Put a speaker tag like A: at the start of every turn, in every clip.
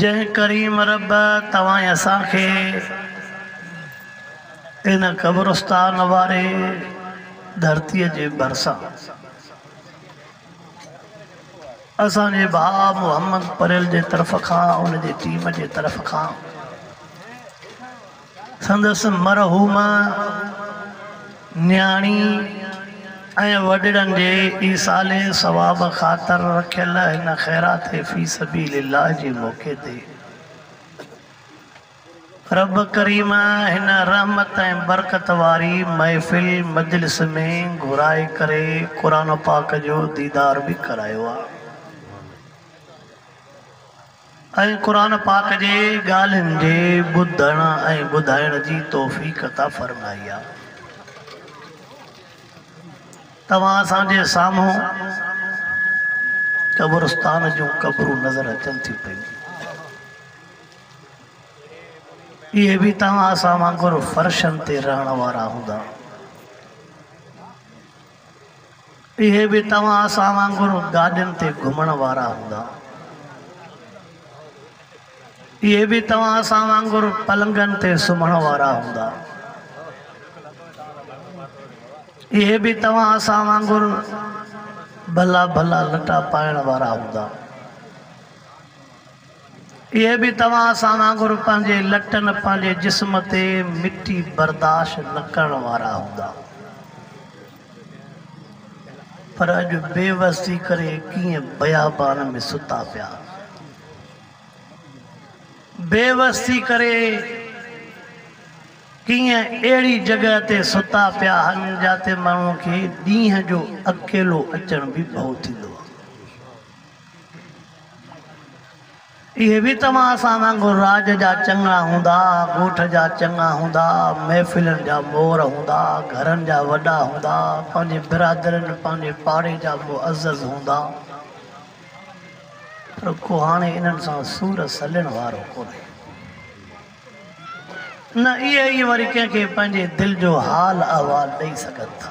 A: جنهن ڪريم رب توهان اسان کي ان قبرستان واري ڌرتيء جي ڀرسان اسان جي ڀاء محمد پريل جي طرف کان ان جي ٽيم جي طرف کان سندس مرحوم نياڻي ۽ وڏڙن جي ايصال ثواب خاطر رکيل هن خيرات في سبيل الله جي موقعي تي رب ڪريم هن رحمت ۽ برڪت واري محفل مجلس ۾ گهرائي ڪري قرآن پاڪ جو ديدار به ڪرايو آ. ۽ قرآن پاڪ جي ڳالهين جي ٻڌڻ ۽ ٻڌائڻ جي توفيق عطا فرمائي آ. توهان اسان جي سامهون قبرستان جون قبرون نظر اچن ٿيون پيون. اهي به توهان اسان وانگر فرشن تي رهڻ وارا هوندا. اهي به توهان اسان وانگر گاڏين تي گهمڻ وارا هوندا. اهي به توهان اسان وانگر پلنگن تي سمهڻ وارا هوندا. اهي به توهان اسان وانگر ڀلا ڀلا لٽا پائڻ وارا هوندا. اهي به توهان سان وانگر پنهنجي لٽن، پنهنجي جسم تي مٽي برداشت نه ڪرڻ وارا هوندا. پر اڄ بي وس ٿي ڪري ڪيئن بيابان ۾ ستا پيا. بي وس ٿي ڪري ڪيئن اهڙي جڳهه تي ستا پيا هن جاتي ماڻهوء کي ڏينهن جو اڪيلو اچڻ به ڀئو ٿيندو آهي. اهي به توهان اسان وانگر راڄ جا چڱا هوندا، ڳوٺ جا چڱا هوندا، محفلن جا مور هوندا، گهرن جا وڏا هوندا، پنهنجي برادرين، پنهنجي پاڙي جا معزز هوندا. پر ڪو هاڻي انهن سان سور سلڻ وارو ڪونهي. نه اهي ئي وري ڪنهن کي پنهنجي دل جو حال احوال ڏئي سگهن ٿا.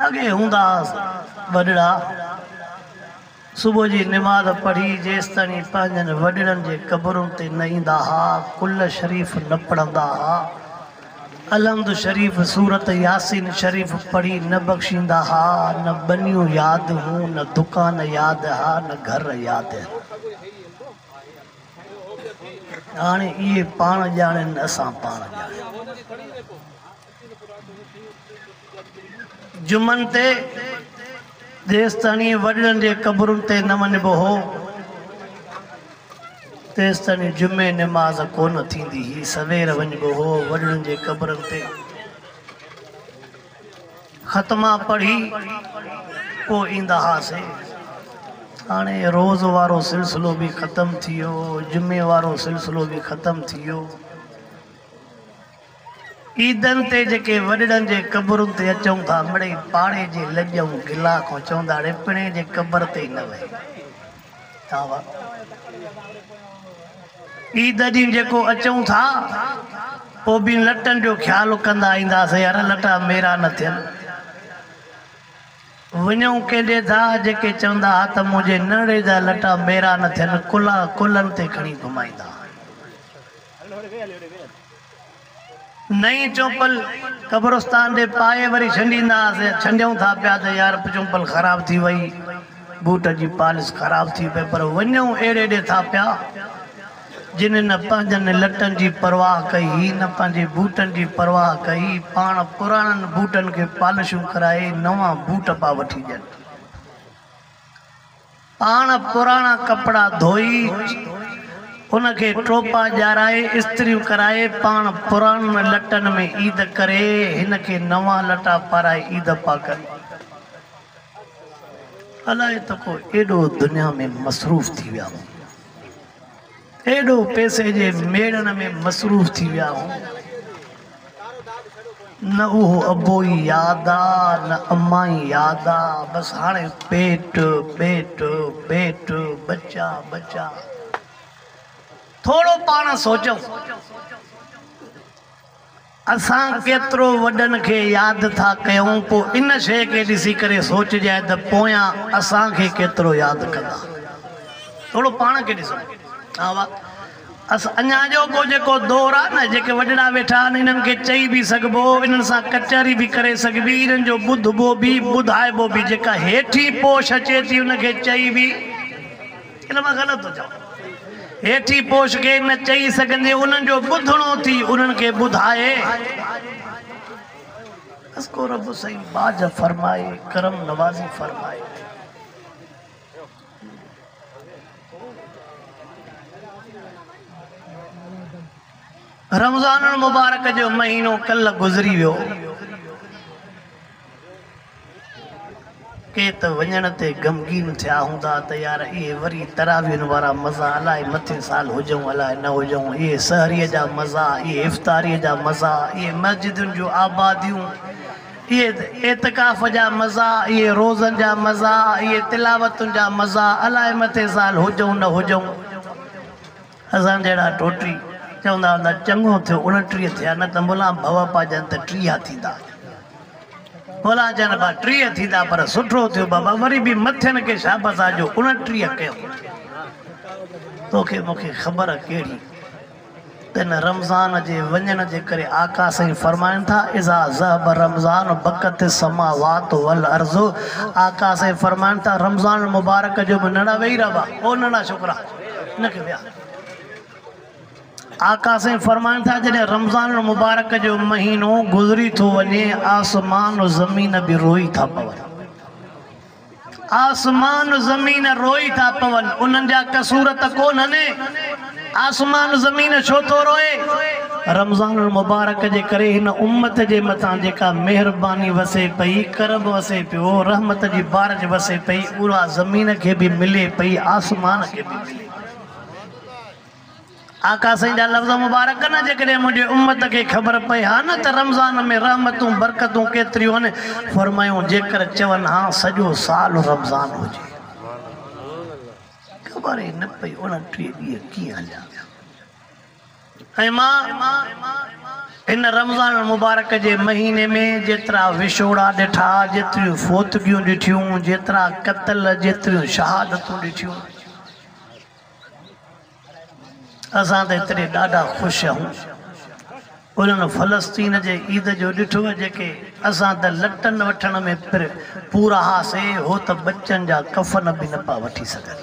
A: اڳي هوندا هئس وڏڙا صبح جي نماز پڙهي جيستائين پنهنجن وڏڙن جي قبرن تي نه ايندا ها ڪل شريف نه پڙهندا ها الحمد شريف سورت ياسين شريف پڙهي نه بخشيندا ها نه ٻنيون ياد هون نه دڪان ياد ها نه گهر ياد هاڻي اهي پاڻ ڄاڻين اسان پاڻ ڄاڻيون. جمعن تي جيستاڻي وڏڙن جي قبرن تي نه وڃبو هو، تيستاڻي جمعي نماز ڪونه ٿيندي هئي. سوير وڃبو هو وڏڙن جي قبرن تي ختما پڙهي پوء ايندا هئاسي. هاڻي روز وارو سلسلو به ختم ٿي ويو، جمعي وارو سلسلو به ختم ٿي ويو. عيدن تي جيڪي وڏڙن جي قبرن تي اچون ٿا مڙئي پاڙي جي لڄ ۽ گلا کان چونداڙي پڻهين جي قبر تي ئي نه وهي ٿا وا عيد ڏينهن جيڪو اچون ٿا پوء به لٽن جو خيال ڪندا اينداسين يار لٽا ميرا نه ٿين وڃون ڪنهن ڏي ٿا جيڪي چوندا ها ته منهنجي ننڙي جا لٽا ميرا نه ٿين ڪلها ڪلهن تي کڻي گهمائيندا نئين چونپل قبرستان ڏي پائي وري ڇنڊيندا هئاسين، ڇنڊيون ٿا پيا ته يار چونپل خراب ٿي وئي، بوٽ جي پالس خراب ٿي پئي پر وڃون اهڙي ڏي ٿا پيا جن نه پنهنجن لٽن جي پرواهه ڪئي هي نه پنهنجي بوٽن جي پرواهه ڪئي، پاڻ پراڻن بوٽن کي پالشون ڪرائي نوان بوٽ پيا وٺي ڏين. پاڻ پراڻا ڪپڙا ڌوئي، ان کي ٽوپا ڄارائي، استريون ڪرائي، پاڻ پراڻن لٽن ۾ عيد ڪري، هن کي نوان لٽا پارائي عيد پاڪ ڏي. الائي ته ڪو ايڏو دنيا ۾ مصروف ٿي ويا هئا. ايڏو پئسي جي ميڙڻ ۾ مصروف ٿي ويا هئون، نه اهو ابوئي ياد آ، نه امائي ياد آ، بس هاڻي پيٽ، پيٽ، پيٽ، ٻچا، ٻچا. ٿورو پاڻ سوچئون. اسان ڪيترو وڏن کي ياد ٿا ڪيون پوء ان شيء کي ڏسي ڪري سوچجائي ته پويان اسان کي ڪيترو ياد ڪندا. ٿورو پاڻ کي ڏسو ها وا اس اڃا اڄوڪو جيڪو دور آهي نه جيڪي وڏڙا ويٺا آهن انهن کي چئي به سگهبو انهن سان ڪچهري به ڪري سگهبي انهن جو ٻڌبو به ٻڌائبو به جيڪا هيٺين پوش اچي ٿي ان کي چئي به ان مان غلط ٿو چوان. هيٺين پوش کي نه چئي سگهندي انهن جو ٻڌڻو ٿي انهن کي ٻڌائي. بس ڪو رب سائين ٻاجهه فرمائي ڪرم نوازي فرمائي. رمضان المبارڪ جو مهينو ڪلهه گذري ويو. ڪي ته وڃڻ تي غمگين ٿيا هوندا ته يار اهي وري تراويحن وارا مزا الاء مٿين سال هجئون الاء نه هجئون، اهي سحريء جا مزا، اهي افطاريء جا مزا، اهي مسجدن جون آباديون، اهي اعتڪاف جا مزا، اهي روزن جا مزا، اهي تلاوتن جا مزا الاء مٿين سال هجئون نه هجئون. اسان جهڙا ٽوٽري چوندا هوندا چڱو ٿيو اڻٽيهه ٿيا نه ته ملان ڀوپا جن ته ٽيهه ٿيندا ملان جن با ٽيهه ٿيندا پر سٺو ٿيو بابا وري به مٿين کي شابس آ جو اڻٽيهه ڪيو توکي مونکي خبر ڪهڙي تن رمضان جي وڃڻ جي ڪري آقا سائين فرمائن ٿا اذا ذهب رمضان بکت السماوات والارض آقا سائين فرمائن ٿا رمضان مبارڪ جو به نڙا ويهي رهبا او نڙا ڇوڪرا آقا سائين فرمائن ٿا جڏهن رمضان المبارڪ جو مهينو گذري ٿو وڃي آسمان و زمين به روئي ٿا پون آسمان و زمين روئي ٿا پون انهن جا قصور ته ڪونهن آسمان زمين ڇو ٿو روئي رمضان المبارڪ جي ڪري هن امت جي مٿان جيڪا مهرباني وسي پئي، ڪرب وسي پيو، رحمت جي بارش وسي پئي، اها زمين کي به ملي پئي، آسمان کي به ملي پئي. آقا سائين جا لفظ مبارڪ نه جيڪڏهن منهنجي امت کي خبر پئي ها نه ته رمضان ۾ رحمتون برڪتون ڪيتريون آهن، فرمايائون جيڪر چون ها سڄو سال رمضان هجي خبر ئي نه پئي اڻٽيهه ڏينهن ڪيئن هليا ويا. ۽ مان هن رمضان المبارڪ جي مهيني ۾ جيترا وڇوڙا ڏٺا، جيتريون فوتگيون ڏٺيون، جيترا قتل، جيتريون شهادتون ڏٺيون، اسان ته ايتري ڏاڍا خوش هئون، انهن فلسطين جي عيد جو ڏٺو جيڪي اسان ته لٽن وٺڻ ۾ پھر پورا هئاسي، هو ته ٻچن جا ڪفن به نه پيا وٺي سگهن.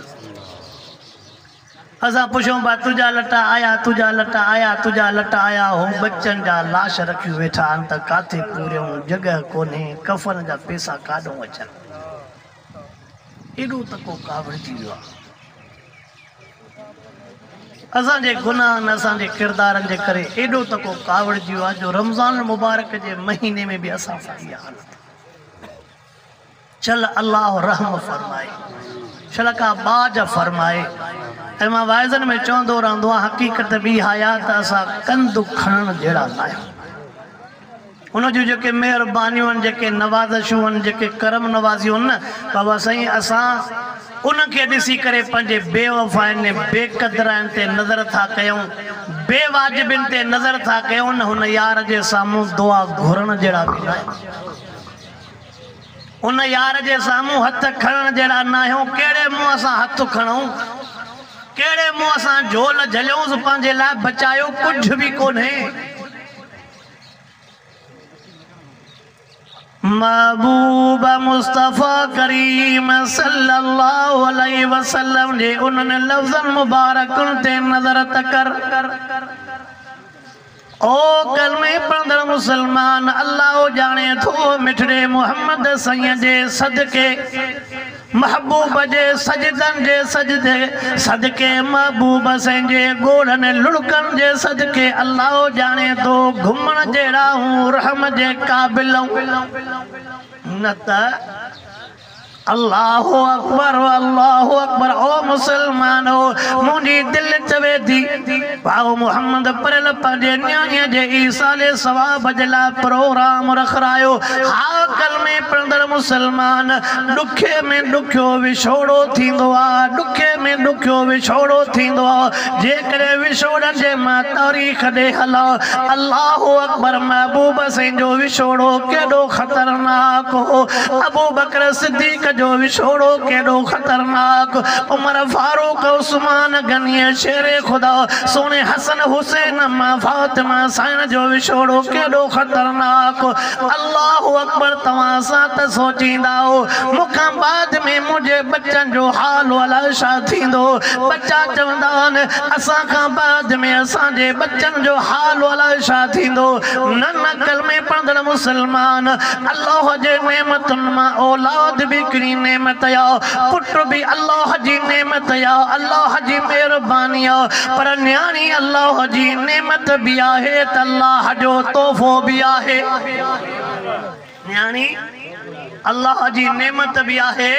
A: اسان پڇون پيا تنهنجا لٽا آيا، تنهنجا لٽا آيا، تنهنجا لٽا آيا، هو ٻچن جا لاش رکيون ويٺا آهن ته ڪاٿي پوريون، جڳهه ڪونهي، ڪفن جا پيسا ڪاڏئون اچن. ايڏو ته ڪو ڪاوڙجي ويو آهي. اسان جي گناهن، اسان جي ڪردارن جي ڪري ايڏو ته ڪو ڪاوڙجي ويو آهي جو رمضان المبارڪ جي مهيني ۾ به اسان سان اها حالت آهي. شل الله رحم فرمائي شل ڪا ٻاجھ فرمائي ۽ مان واعظن ۾ چوندو رهندو آهيان حقيقت به اها آهي ته اسان ڪنڌ کڻڻ جهڙا نه آهيون ان جون جيڪي مهربانيون آهن جيڪي نوازشون آهن جيڪي ڪرم نوازيون آهن نه بابا سائين اسان انهن کي ڏسي ڪري پنهنجي بي وفائن بي قدرائن تي نظر ٿا ڪيون بي واجبين تي نظر ٿا ڪيون هن يار جي سامهون دعا گهرڻ جهڙا به نه آهيون ان يار جي سامهون هٿ کڻڻ جهڙا ناهيون، ڪهڙي منهن سان هٿ کڻئون، ڪهڙي منهن سان جهول جهليونس، پنهنجي لاء بچايو ڪجهه به ڪونهي. محبوب مصطفيٰ ڪريم صلي الله عليه وسلم جي انهن لفظن مبارڪن تي نظر ته ڪر. او ڪلمي پڙهندڙ مسلمان! الله ڄاڻي ٿو مٺڙي محمد سائين جي صدقي، محبوب جي سجدن جي سجدي صدقي، محبوب سائين جي ڳوڙهن لڙڪن جي صدقي الله ڄاڻي ٿو گهمڻ جهڙا هون رحم جي قابل آئون نه ته الله اڪبر الله اڪبر او مسلمانو منهنجي دل چوي ٿي ڀائو محمد پريل پنهنجي نياڻي جي ايصال ثواب جي لاء پروگرام رکرايو ها ڪلمي پڙهندڙ مسلمان ڏکي ۾ ڏکيو وڇوڙو ٿيندو آ ڏکي ۾ ڏکيو وڇوڙو ٿيندو آ جيڪڏهن وڇوڙن جي مان تاريخ ڏي هلان الله اڪبر محبوب حسين جو وڇوڙو ڪيڏو خطرناڪ هو ابوبڪر صديق جو وڇوڙو ڪيڏو خطرناڪ عمر فاروق عثمان غني شير خدا سهڻي حسن حسين مان فاطمه سائڻ جو وڇوڙو ڪيڏو خطرناڪ هو الله اڪبر توهان سان ته سوچيندا هئو مون کان بعد ۾ منهنجي ٻچن جو حال الا ڇا ٿيندو ٻچا چوندا آهن اسان کان بعد ۾ اسان جي ٻچن جو حال الا ڇا ٿيندو نه نه ڪلمي پڙهندڙ مسلمان الله جي نعمتن مان اولاد به هڪڙي نعمت آ پٽ به الله جي نعمت آ الله جي مهرباني آ پر نياڻي الله جي نعمت به آهي ته الله جو تحفو به آهي. يعني الله جي نعمت به آهي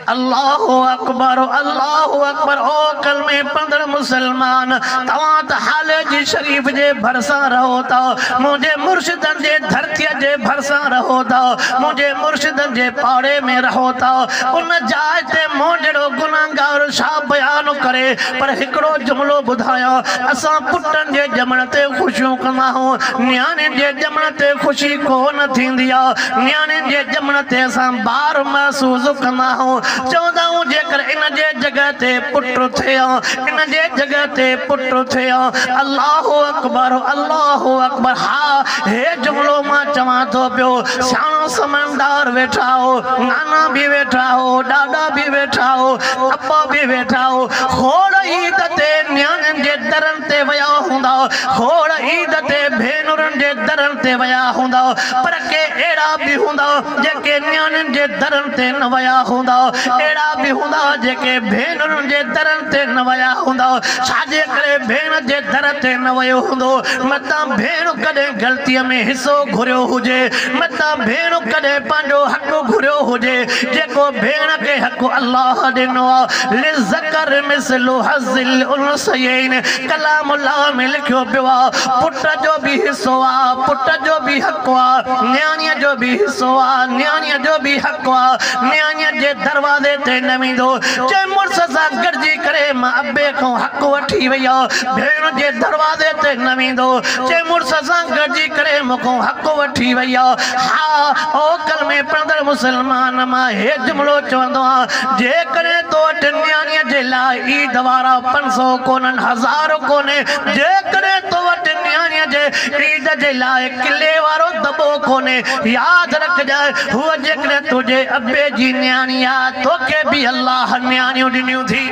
A: الله اڪبر الله اڪبر او ڪلمي پڙهندڙ مسلمان توهان ته حالي جي شريف جي ڀرسان رهو ٿا منهنجي مرشدن جي ڌرتي جي ڀرسان رهو ٿا منهنجي مرشدن جي پاڙي ۾ رهو ٿا ان جاء تي مون جهڙو گنهگار ڇا بيان ڪري پر هڪڙو جملو ٻڌايان اسان پٽن جي ڄمڻ تي خوشيون ڪنداهون نياڻين جي ڄمڻ تي خوشي ڪو نه ٿيندي آ، نياڻين جي ڄمڻ تي اسان بار محسوس ڪندا آهيون، چوندا آهيون جيڪر ان جي جڳهه تي پٽ ٿئي ها، ان جي جڳهه تي پٽ ٿئي ها، الله اڪبر الله اڪبر ها هي جملو مان چوان ٿو پيو، سياڻو سمجهدار ويٺا هو، نانا به ويٺا هو، ڏاڏا به ويٺا هو، ابا به ويٺا هو، کوڙ عيد تي نياڻين جي درن تي ويا هوندا، کوڙ عيد تي ڀينرن جي درن تي ويا هوندا، پر ڪي اهڙا به هوندا، جيڪي نياڻين جي درن تي نه ويا هوندا. اهڙا به هوندا، جيڪي ڀينرن جي درن تي نه ويا هوندا. ڇاجي ڪري ڀيڻ جي در تي نه ويو هوندو؟ متان ڀيڻ ڪڏهن غلطيء ۾ حصو گهريو هجي. متان ڀيڻ ڪڏهن پنهنجو حق گهريو هجي، جيڪو ڀيڻ کي حق الله ڏنو آهي، للذڪر مثل حظ الانثيين. ڪلام الله ۾ لکيو پيو آ پٽ جو به حصو آ پٽ جو به حق آ نياڻيء جو به حصو آ نياڻيء جو به حق آ نياڻيء جي دروازي تي نه ويندو جي مڙس سان گڏجي ڪري ماء ابي کان حق وٺي وئي آ ڀيڻ جي دروازي تي نه ويندو جي مڙس سان گڏجي ڪري مون کان حق وٺي وئي آ ها او ڪلمي پڙهندڙ مسلمان مان هي جملو چوندو آ جيڪڏهن تو وٽ نياڻيء جي لاء عيد وارا سو ڪونهن، هزار ڪونهي، جيڪڏهن تو وٽ نياڻيء جي عيد جي لاء قلعي وارو دٻو ڪونهي، ياد رکجانء، هوء جيڪڏهن تنهنجي ابي جي نياڻي آ، توکي به الله نياڻيون ڏنيون ٿي.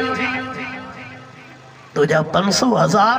A: تنهنجا پنج سؤ هزار.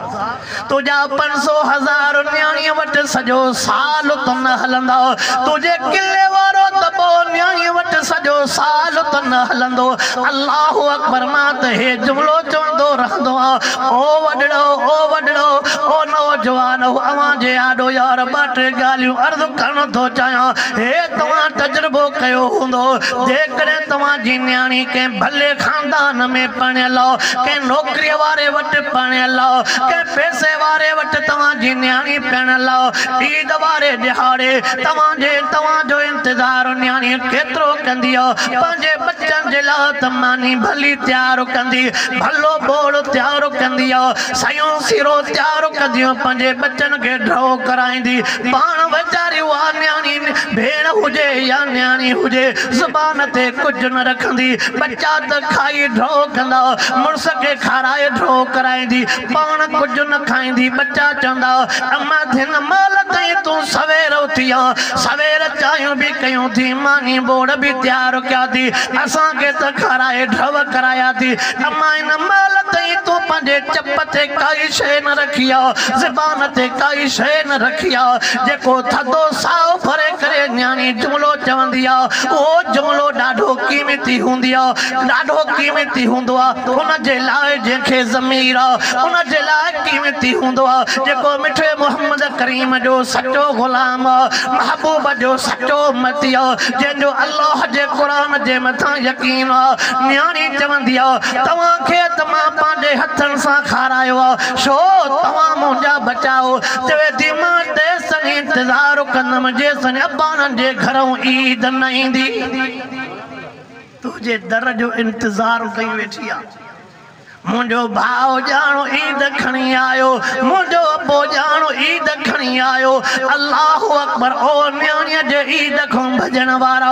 A: تنهنجا پنج سو هزار نياڻيء وٽ سڄو سال ته نه هلندا، تنهنجي قلعي وارو دٻو نياڻيء وٽ سڄو سال ته نه هلندو. الله اڪبر مان ته هي جملو چوندو رهندو آ، او وڏڙو، او وڏڙو، او نوجوان، اوهان جي آڏو يار ٻه ٽي ڳالهيون عرض ڪرڻ ٿو چاهيان. هي توهان تجربو ڪيو هوندو، جيڪڏهن توهان جي نياڻي ڪنهن ڀلي خاندان، خاندان ۾ پرڻيل آهو، ڪنهن نوڪريء واري وٽ پرڻيل آهو، ڪنهن پئسي واري وٽ توهان جي نياڻي پرڻيل آهو، عيد واري ڏهاڙي توهان جي توهان جو انتظار نياڻي ڪيترو ڪندي آهو، پنهنجي ٻچن جي لاء ته ماني ڀلي تيار ڪندي، ڀلو ٻوڙ تيار ڪندي آهو، سيون سيرو تيار ڪنديون پنهنجي ٻچن کي ڍؤ ڪرائيندي، پاڻ ويچاري اها نياڻي ڀيڻ هجي يا نياڻي هجي زبان تي ڪجهه نه رکندي. ڪندي، ٻچا ته کائي ڍو ڪندا، مڙس کي کارائي ڍو ڪرائيندي، پاڻ ڪجهه نه کائيندي، ٻچا چوندا، اماء ڌن مال تائين تون سوير اٿي آ، سوير چانهيون به ڪيون ٿي، ماني ٻوڙ به تيار ڪيا ٿي، اسان کي ته کارائي ڍو ڪرايا ٿي، اماء ان مال تائين تون پنهنجي چپ تي ڪائي شيء نه رکي آ، زبان تي ڪائي شيء نه رکي آ، جيڪو ٿڌو ساهه ڀري ڪري نياڻي جملو چوندي آ، اهو جملو ڏاڍو قيمتي هوندي آ، ڏاڍو قيمتي هوندو آ ان جي لاء جنهن کي ضمير آ، ان جي لاء قيمتي هوندو آ جيڪو مٺي محمد ڪريم جو سچو غلام آ، محبوب جو سچو امتي آ، جنهن جو الله جي قرآن جي مٿان يقين آ. نياڻي چوندي آ، توهان کي ته مان پنهنجي هٿن سان کارايو آ، ڇو توهان منهنجا ٻچا آهيو. چوي ٿي مان تيسين انتظار ڪندم جيسين اباڻن جي گهرئون عيد نه ايندي. تنهنجي در جو انتظار ڪئي ويٺي آ. منهنجو ڀاء ڄاڻو عيد کڻي آيو. منهنجو ابو ڄاڻو عيد کڻي آيو. الله اڪبر او نياڻيء جي عيد کان ڀڄڻ وارا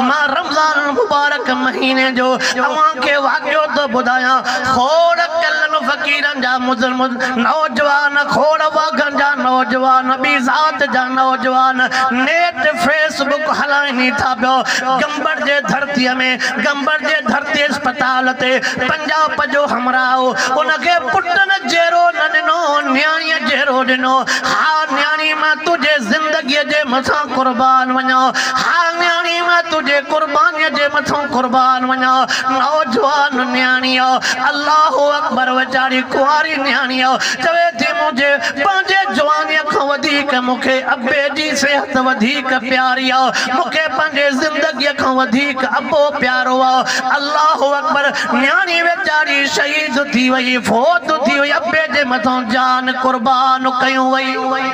A: مان رمضان المبارڪ مهيني جو اوهان کي واقعو ٿو ٻڌايان. کوڙ ڪلن فقيرن جا مظلم نوجوان کوڙ واگهن جا نوجوان ٻي ذات جا نوجوان نيٽ فيس بڪ هلائني ٿا پيو گمبٽ جي ڌرتي ۾ گمبٽ جي ڌرتي اسپتال تي پنجاپ جو همراهه ان کي پٽن جهڙو نه ڏنو نياڻي جهڙو ڏنو ها نياڻي مان تنهنجي زندگي جي مٿان قربان وڃان ها نياڻي مان تنهنجي قرباني جي مٿان قربان وڃان نوجوان نياڻي الله اڪبر خبر ويچاري ڪنواري نياڻيء چوي ٿي، منهنجي پنهنجي جوانيء کان وڌيڪ مون کي ابي جي صحت وڌيڪ پياري آ، مون کي پنهنجي زندگيء کان وڌيڪ ابو پيارو آ. الله اڪبر! نياڻي ويچاري شهيد ٿي وئي، فوت ٿي وئي، ابي جي مٿان جان قربان ڪيون وئي.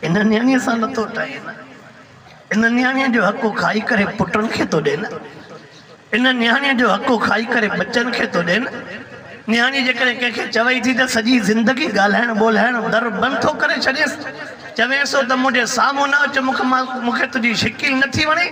A: ان نياڻيء سان لتو ٽائي نه. ان نياڻيء جو حقو کائي ڪري پٽن کي ٿو ڏين. ان نياڻيء جو حقو کائي ڪري ٻچن کي ٿو ڏين. نياڻي جيڪڏهن ڪنهن کي چوي ٿي ته سڄي زندگي ڳالهائڻ ٻولهائڻ در بند ٿو ڪري ڇڏينس. چوينس ٿو ته منهنجي سامهون نه اچ، مون کي تنهنجي شڪل نٿي وڻي.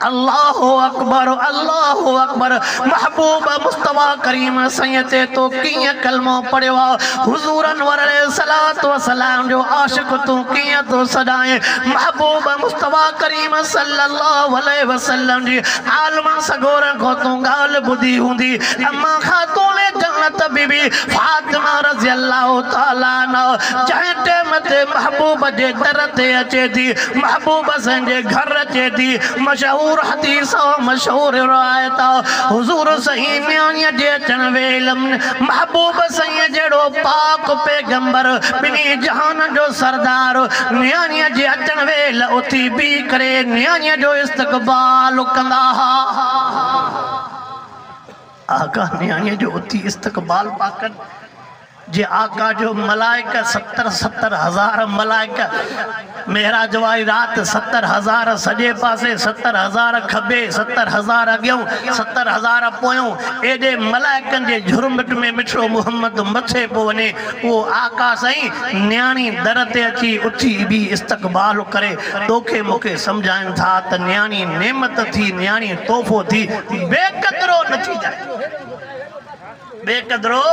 A: الله اڪبر الله اڪبر محبوب مصطفيٰ ڪريم سائين تي تو ڪيئن ڪلمو پڙهيو آ حضور انور عليه الصلوة والسلام جو عاشق تون ڪيئن ٿو سڏائين محبوب مصطفيٰ ڪريم صلي الله عليه وسلم جي عالمن سڳورن کان تون ڳالهه ٻڌي هوندي اما خاتون جنت بي بي فاطمه رضي الله تعالٰي عنها جنهن ٽيم تي محبوب جي در تي اچي ٿي محبوب حسين جي گهر اچي ٿي مشهور حديث ۽ مشهور روايت آ حضور سائين نياڻيء جي اچڻ ويل محبوب سائين جهڙو پاڪ پيغمبر ٻنهي جهانن جو سردار نياڻيء جي اچڻ ويل اٿي بيهي ڪري نياڻيء جو استقبال ڪندا ها آقا نياڻيء جو اٿي استقبال پيا ڪن. جي آقا جو ملائڪ ستر ستر هزار ملائڪ معراج واري رات ستر هزار سڄي پاسي ستر هزار کٻي ستر هزار اڳيون ستر هزار پويون ايڏي ملائڪن جي جهرمٽ ۾ مٺڙو محمد مٿي پيو وڃي اهو آقا سائين نياڻي در تي اچي اٿي بيهي استقبال ڪري توکي مونکي سمجهائن ٿا ته نياڻي نعمت ٿي نياڻي تحفو ٿي بي قدرو نه ٿي جائي ٻئي قدرو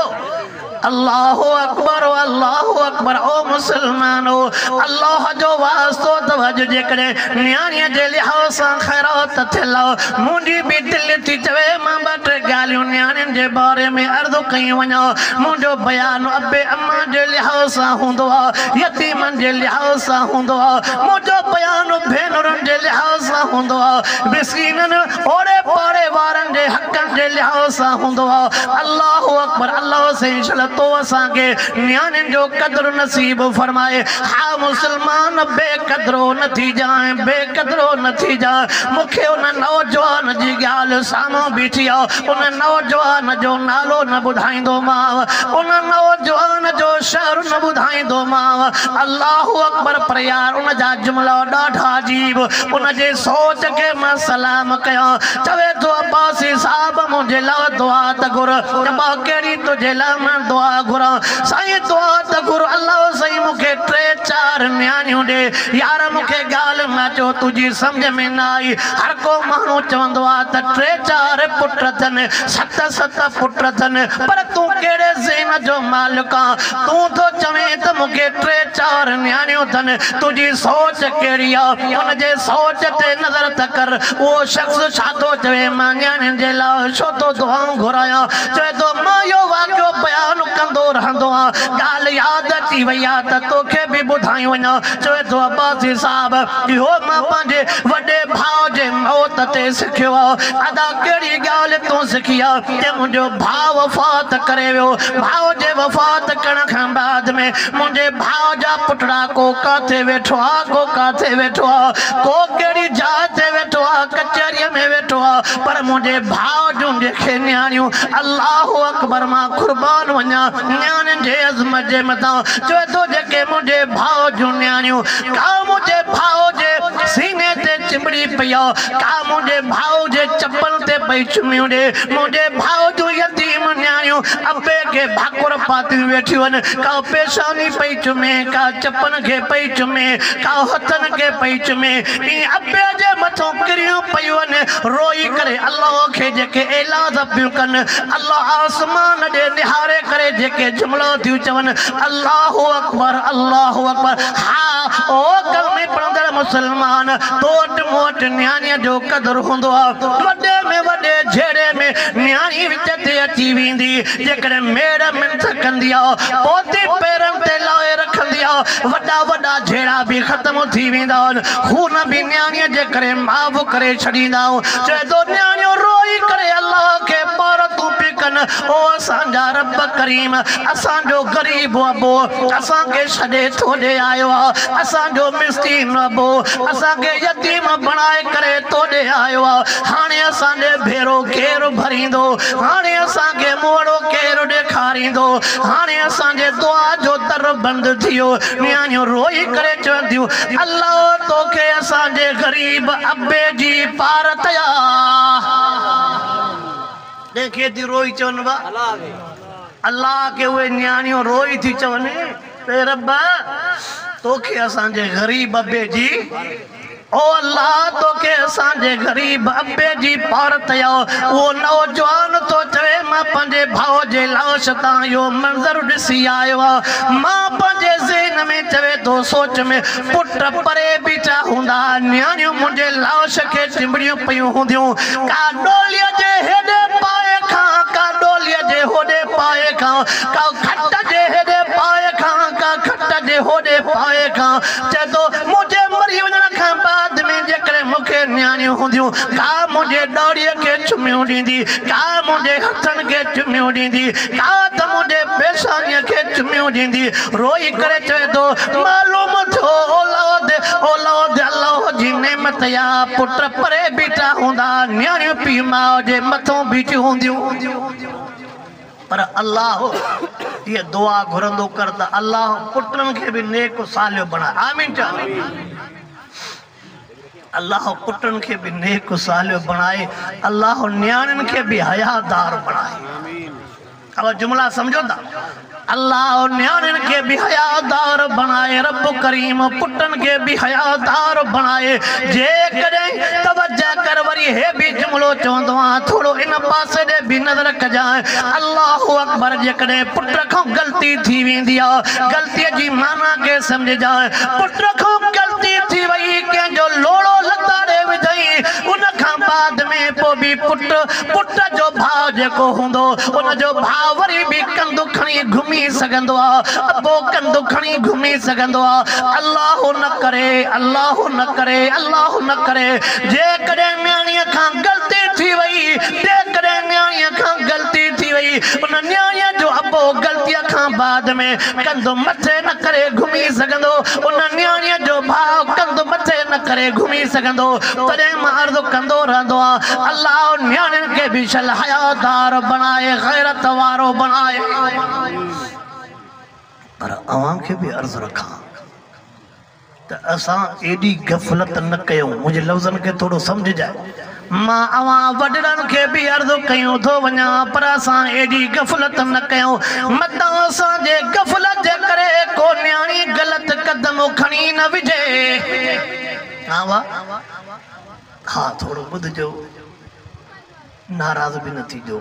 A: الله اڪبر الله اڪبر او مسلمانو الله جو واسطو اٿو اڄ جيڪڏهن نياڻي جي لحاظ سان خيرات ٿيل آ منهنجي به دل ٿي چوي مان ٻه ٽي ڳالهيون نياڻين جي باري ۾ عرض ڪيون وڃان منهنجو بيان ابي اما جي لحاظ سان هوندو آ يتيمن جي لحاظ سان هوندو آ منهنجو بيان ڀينرن جي لحاظ سان هوندو آ مسڪينن اوڙي پاڙي وارن جي حقن جي لحاظ سان هوندو آ الله اڪبر الله سائين شل تو اسان کي نياڻين جو قدر نصيب فرمائي ها مسلمان بي قدرو نه ٿي جانء بي قدرو نه ٿي جانء مون کي ان نوجوان جي ڳالهه سامهون بيٺي آ ان نوجوان جو نالو نه ٻڌائيندومانء ان نوجوان جو شهر نه ٻڌائيندومانء ٿومانء الله اڪبر پر يار ان جا جملا ڏاڍا عجيب ان جي سوچ کي مان سلام ڪيان چوي ٿو عباسي صاحب منهنجي لاء دعا ته گهر ابا ڪهڙي تنهنجي لاء مان دعا گهران سائين دعا ته گهر الله سائين مون کي ٽي چار نياڻيون ڏي يار مون کي ڳالهه نه چو تنهنجي سمجهه ۾ نه آئي هر ڪو ماڻهو چوندو آ ته ٽي چار پٽ اٿن ست ست پٽ اٿن پر تون ڪهڙي ذهن جو مالڪ آن تون ٿو چوين ته مون کي ٽي چار نياڻيون اٿن، تنهنجي سوچ ڪهڙي آ؟ ان جي سوچ تي نظر ته ڪر، اهو شخص ڇا ٿو چوي؟ مان نياڻين جي لاء ڇو ٿو دعائون گهرايان؟ چوي ٿو مان اهو واقعو بيان ڪندو رهندو آهيان، ڳالهه ياد اچي وئي آ ته توکي به ٻڌائي وڃان. چوي ٿو عباسي صاحب، اهو مان پنهنجي وڏي ڀاء جي موت تي سکيو آ. ادا ڪهڙي ڳالهه تون سکي آ؟ اتي منهنجو ڀاء وفات ڪري ويو. ڀاء جي وفات ڪرڻ کان بعد ۾ منهنجي ڀاء جا پٽڙا ڪو ڪاٿي ويٺو آ، ڪو ڪاٿي ويٺو آ، ڪو ڪهڙي جاء تي ويٺو آ، ڪچهريء ۾ ويٺو آ، پر منهنجي ڀاء جون جيڪي نياڻيون الله اڪبر مان قربان وڃان نياڻين جي عظمت جي مٿان چوي ٿو جيڪي منهنجي ڀاء جون نياڻيون ڪا منهنجي ڀاء جي سيني تي چنبڙي پئي آ، ڪا منهنجي ڀاء جي چپل تي پئي چميون ڏي، منهنجي ڀاء جون يتيم نياڻيون ابي کي ڀاڪر پاتيون ويٺيون آهن، ڪا پيشاني پئي چمي، ڪا چپن کي پئي چمي، ڪا هٿن کي پئي چمي، ائين ابي جي مٿون ڪريون پيون آهن، روئي ڪري الله کي جيڪي ايلاز پيون ڪن، الله آسمان ڏي نهاري ڪري جيڪي جملا ٿيون چون، الله اڪبر الله اڪبر، ها او ڪلمي پڙهندڙ مسلمان! مان تو وٽ مون وٽ نياڻيء جو قدر هوندو آ، وڏي ۾ وڏي جهيڙي ۾ نياڻي وچ تي اچي ويندي، جيڪڏهن ميڙ منٿ ڪندي آ، پوتي پيرن تي لاهي رکندي آ، وڏا وڏا جهيڙا به ختم ٿي ويندا آهن، خون به نياڻيء جي ڪري معاف ڪري ڇڏيندا آهيون، چئي ٿو نياڻيون روئي ڪري الله کي پار تون پي ڪن، او اسان جا رب ڪريم! اسان جو غريب ابو اسان کي ڇڏي تو ڏي آيو آ، اسان جو مسڪين ابو اسان کي يتيم بڻائي ڪري تو ڏي آيو آ، هاڻي اسان ڏي ڀيرو ڪير ڀريندو؟ هاڻي اسان کي منهوڙو ڪير ڏيکاريندو؟ هاڻي اسان جي دعا جو در بند ٿيو. نياڻيون روئي ڪري چون ٿيون، الله تو کي اسان جي غريب ابي جي پار تيا. تنهن کي ٿي روئي چون وا الله کي اهي نياڻيون روئي ٿي چون اي رب توکي اسان جي غريب ابي جي او الله توکي اسان جي غريب ابي جي پار ٿئي ها اهو نوجوان ٿو چوي مان پنهنجي ڀاء جي لاش تان اهو منظر ڏسي آيو آهيان مان پنهنجي ذهن ۾ چوي ٿو سوچ ۾ پٽ پري بيٺا هوندا، نياڻيون منهنجي لاش کي چنبڙيون پيون هونديون، ڪا ڏوليء جي هيڏي پاهي کان، ڪا ڏوليء جي هوڏي پاهي کان، ڪا کٽ جي هيڏي پاهي کان، ڪا کٽ جي هوڏي پاهي کان، چئي ٿو، منهنجي مري وڃڻ کان بعد ۾ جيڪڏهن مون کي نياڻيون هونديون، ڪا منهنجي ڏاڙهيء کي چميون ڏيندي، ڪا منهنجي هٿن کي چميون ڏيندي، ٽاٽ منهنجي پيشانيء کي چميون ڏيندي روئي ڪري چوي ٿو، معلوم ٿيو اولاد اولاد الله جي نعمت آ، پٽ پري بيٺا هوندا، نياڻيون پيء ماء جي مٿون بيٺيون هونديون. پر الله هيء دعا گهرندو ڪر ته الله پٽن کي به نيڪ و صالح بڻاء. آمين چئو. الله پٽن کي به نيڪ و صالح بڻائي الله نياڻين کي به حيا دار بڻائي اوهان جملا سمجهو ٿا الله نياڻين کي به حيا دار بڻائي رب ڪريم پٽن کي به حيا دار بڻائي جيڪڏهن توجه ڪر وري هي به جملو چوندو آهيان ٿورو ان پاسي ڏي به نظر ڪجانء الله اڪبر جيڪڏهن پٽ کان غلطي ٿي ويندي آهي غلطي جي معنيٰ کي سمجهجانء پٽ کان غلطي ٿي وئي ڪنهن جو لوڙهو لتاڙي وڌئي ان کان بعد ۾ پوء به پٽ پٽ جو ڀاء جيڪو هوندو ان جو ڀاء وري به ڪنڌ کڻي گهمي سگهندو آ ابو ڪنڌ کڻي گهمي سگهندو آ الله نه ڪري الله نه ڪري الله نه ڪري جيڪڏهن نياڻيء کان غلطي ٿي وئي جيڪڏهن نياڻيء کان غلطي ٿي وئي ان نياڻيء جو ابو غلطيء کان بعد ۾ ڪنڌ مٿي نه ڪري گهمي سگهندو ان نياڻيء جو ڀاء ڪنڌ مٿي نه ڪري گهمي سگهندو تڏهن مان عرض ڪندو رهندو آهيان الله نياڻين کي به شل حيادار بڻائي غيرت وارو بڻائي پر اوهان کي به عرض رکان. ته اسان ايڏي غفلت نه ڪيون. منهنجي لفظن کي ٿورو سمجهجاء. مان اوهان وڏڙن کي به عرض ڪيون ٿو وڃان پر اسان ايڏي غفلت نه ڪيون. متان اسان جي غفلت جي ڪري ڪو نياڻي غلط قدم کڻي نه وجهي. ها واء. ها ٿورو ٻڌجو. ناراض به نه ٿيجو.